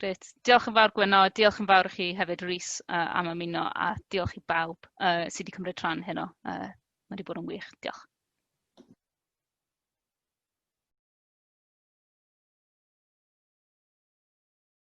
Grêt.
Diolch yn fawr Gwenno, diolch yn fawr i chi hefyd Rhys uh, am ymuno a diolch i bawb uh, sydd wedi cymryd rhan heno. Uh, mae wedi bod yn wych. Diolch.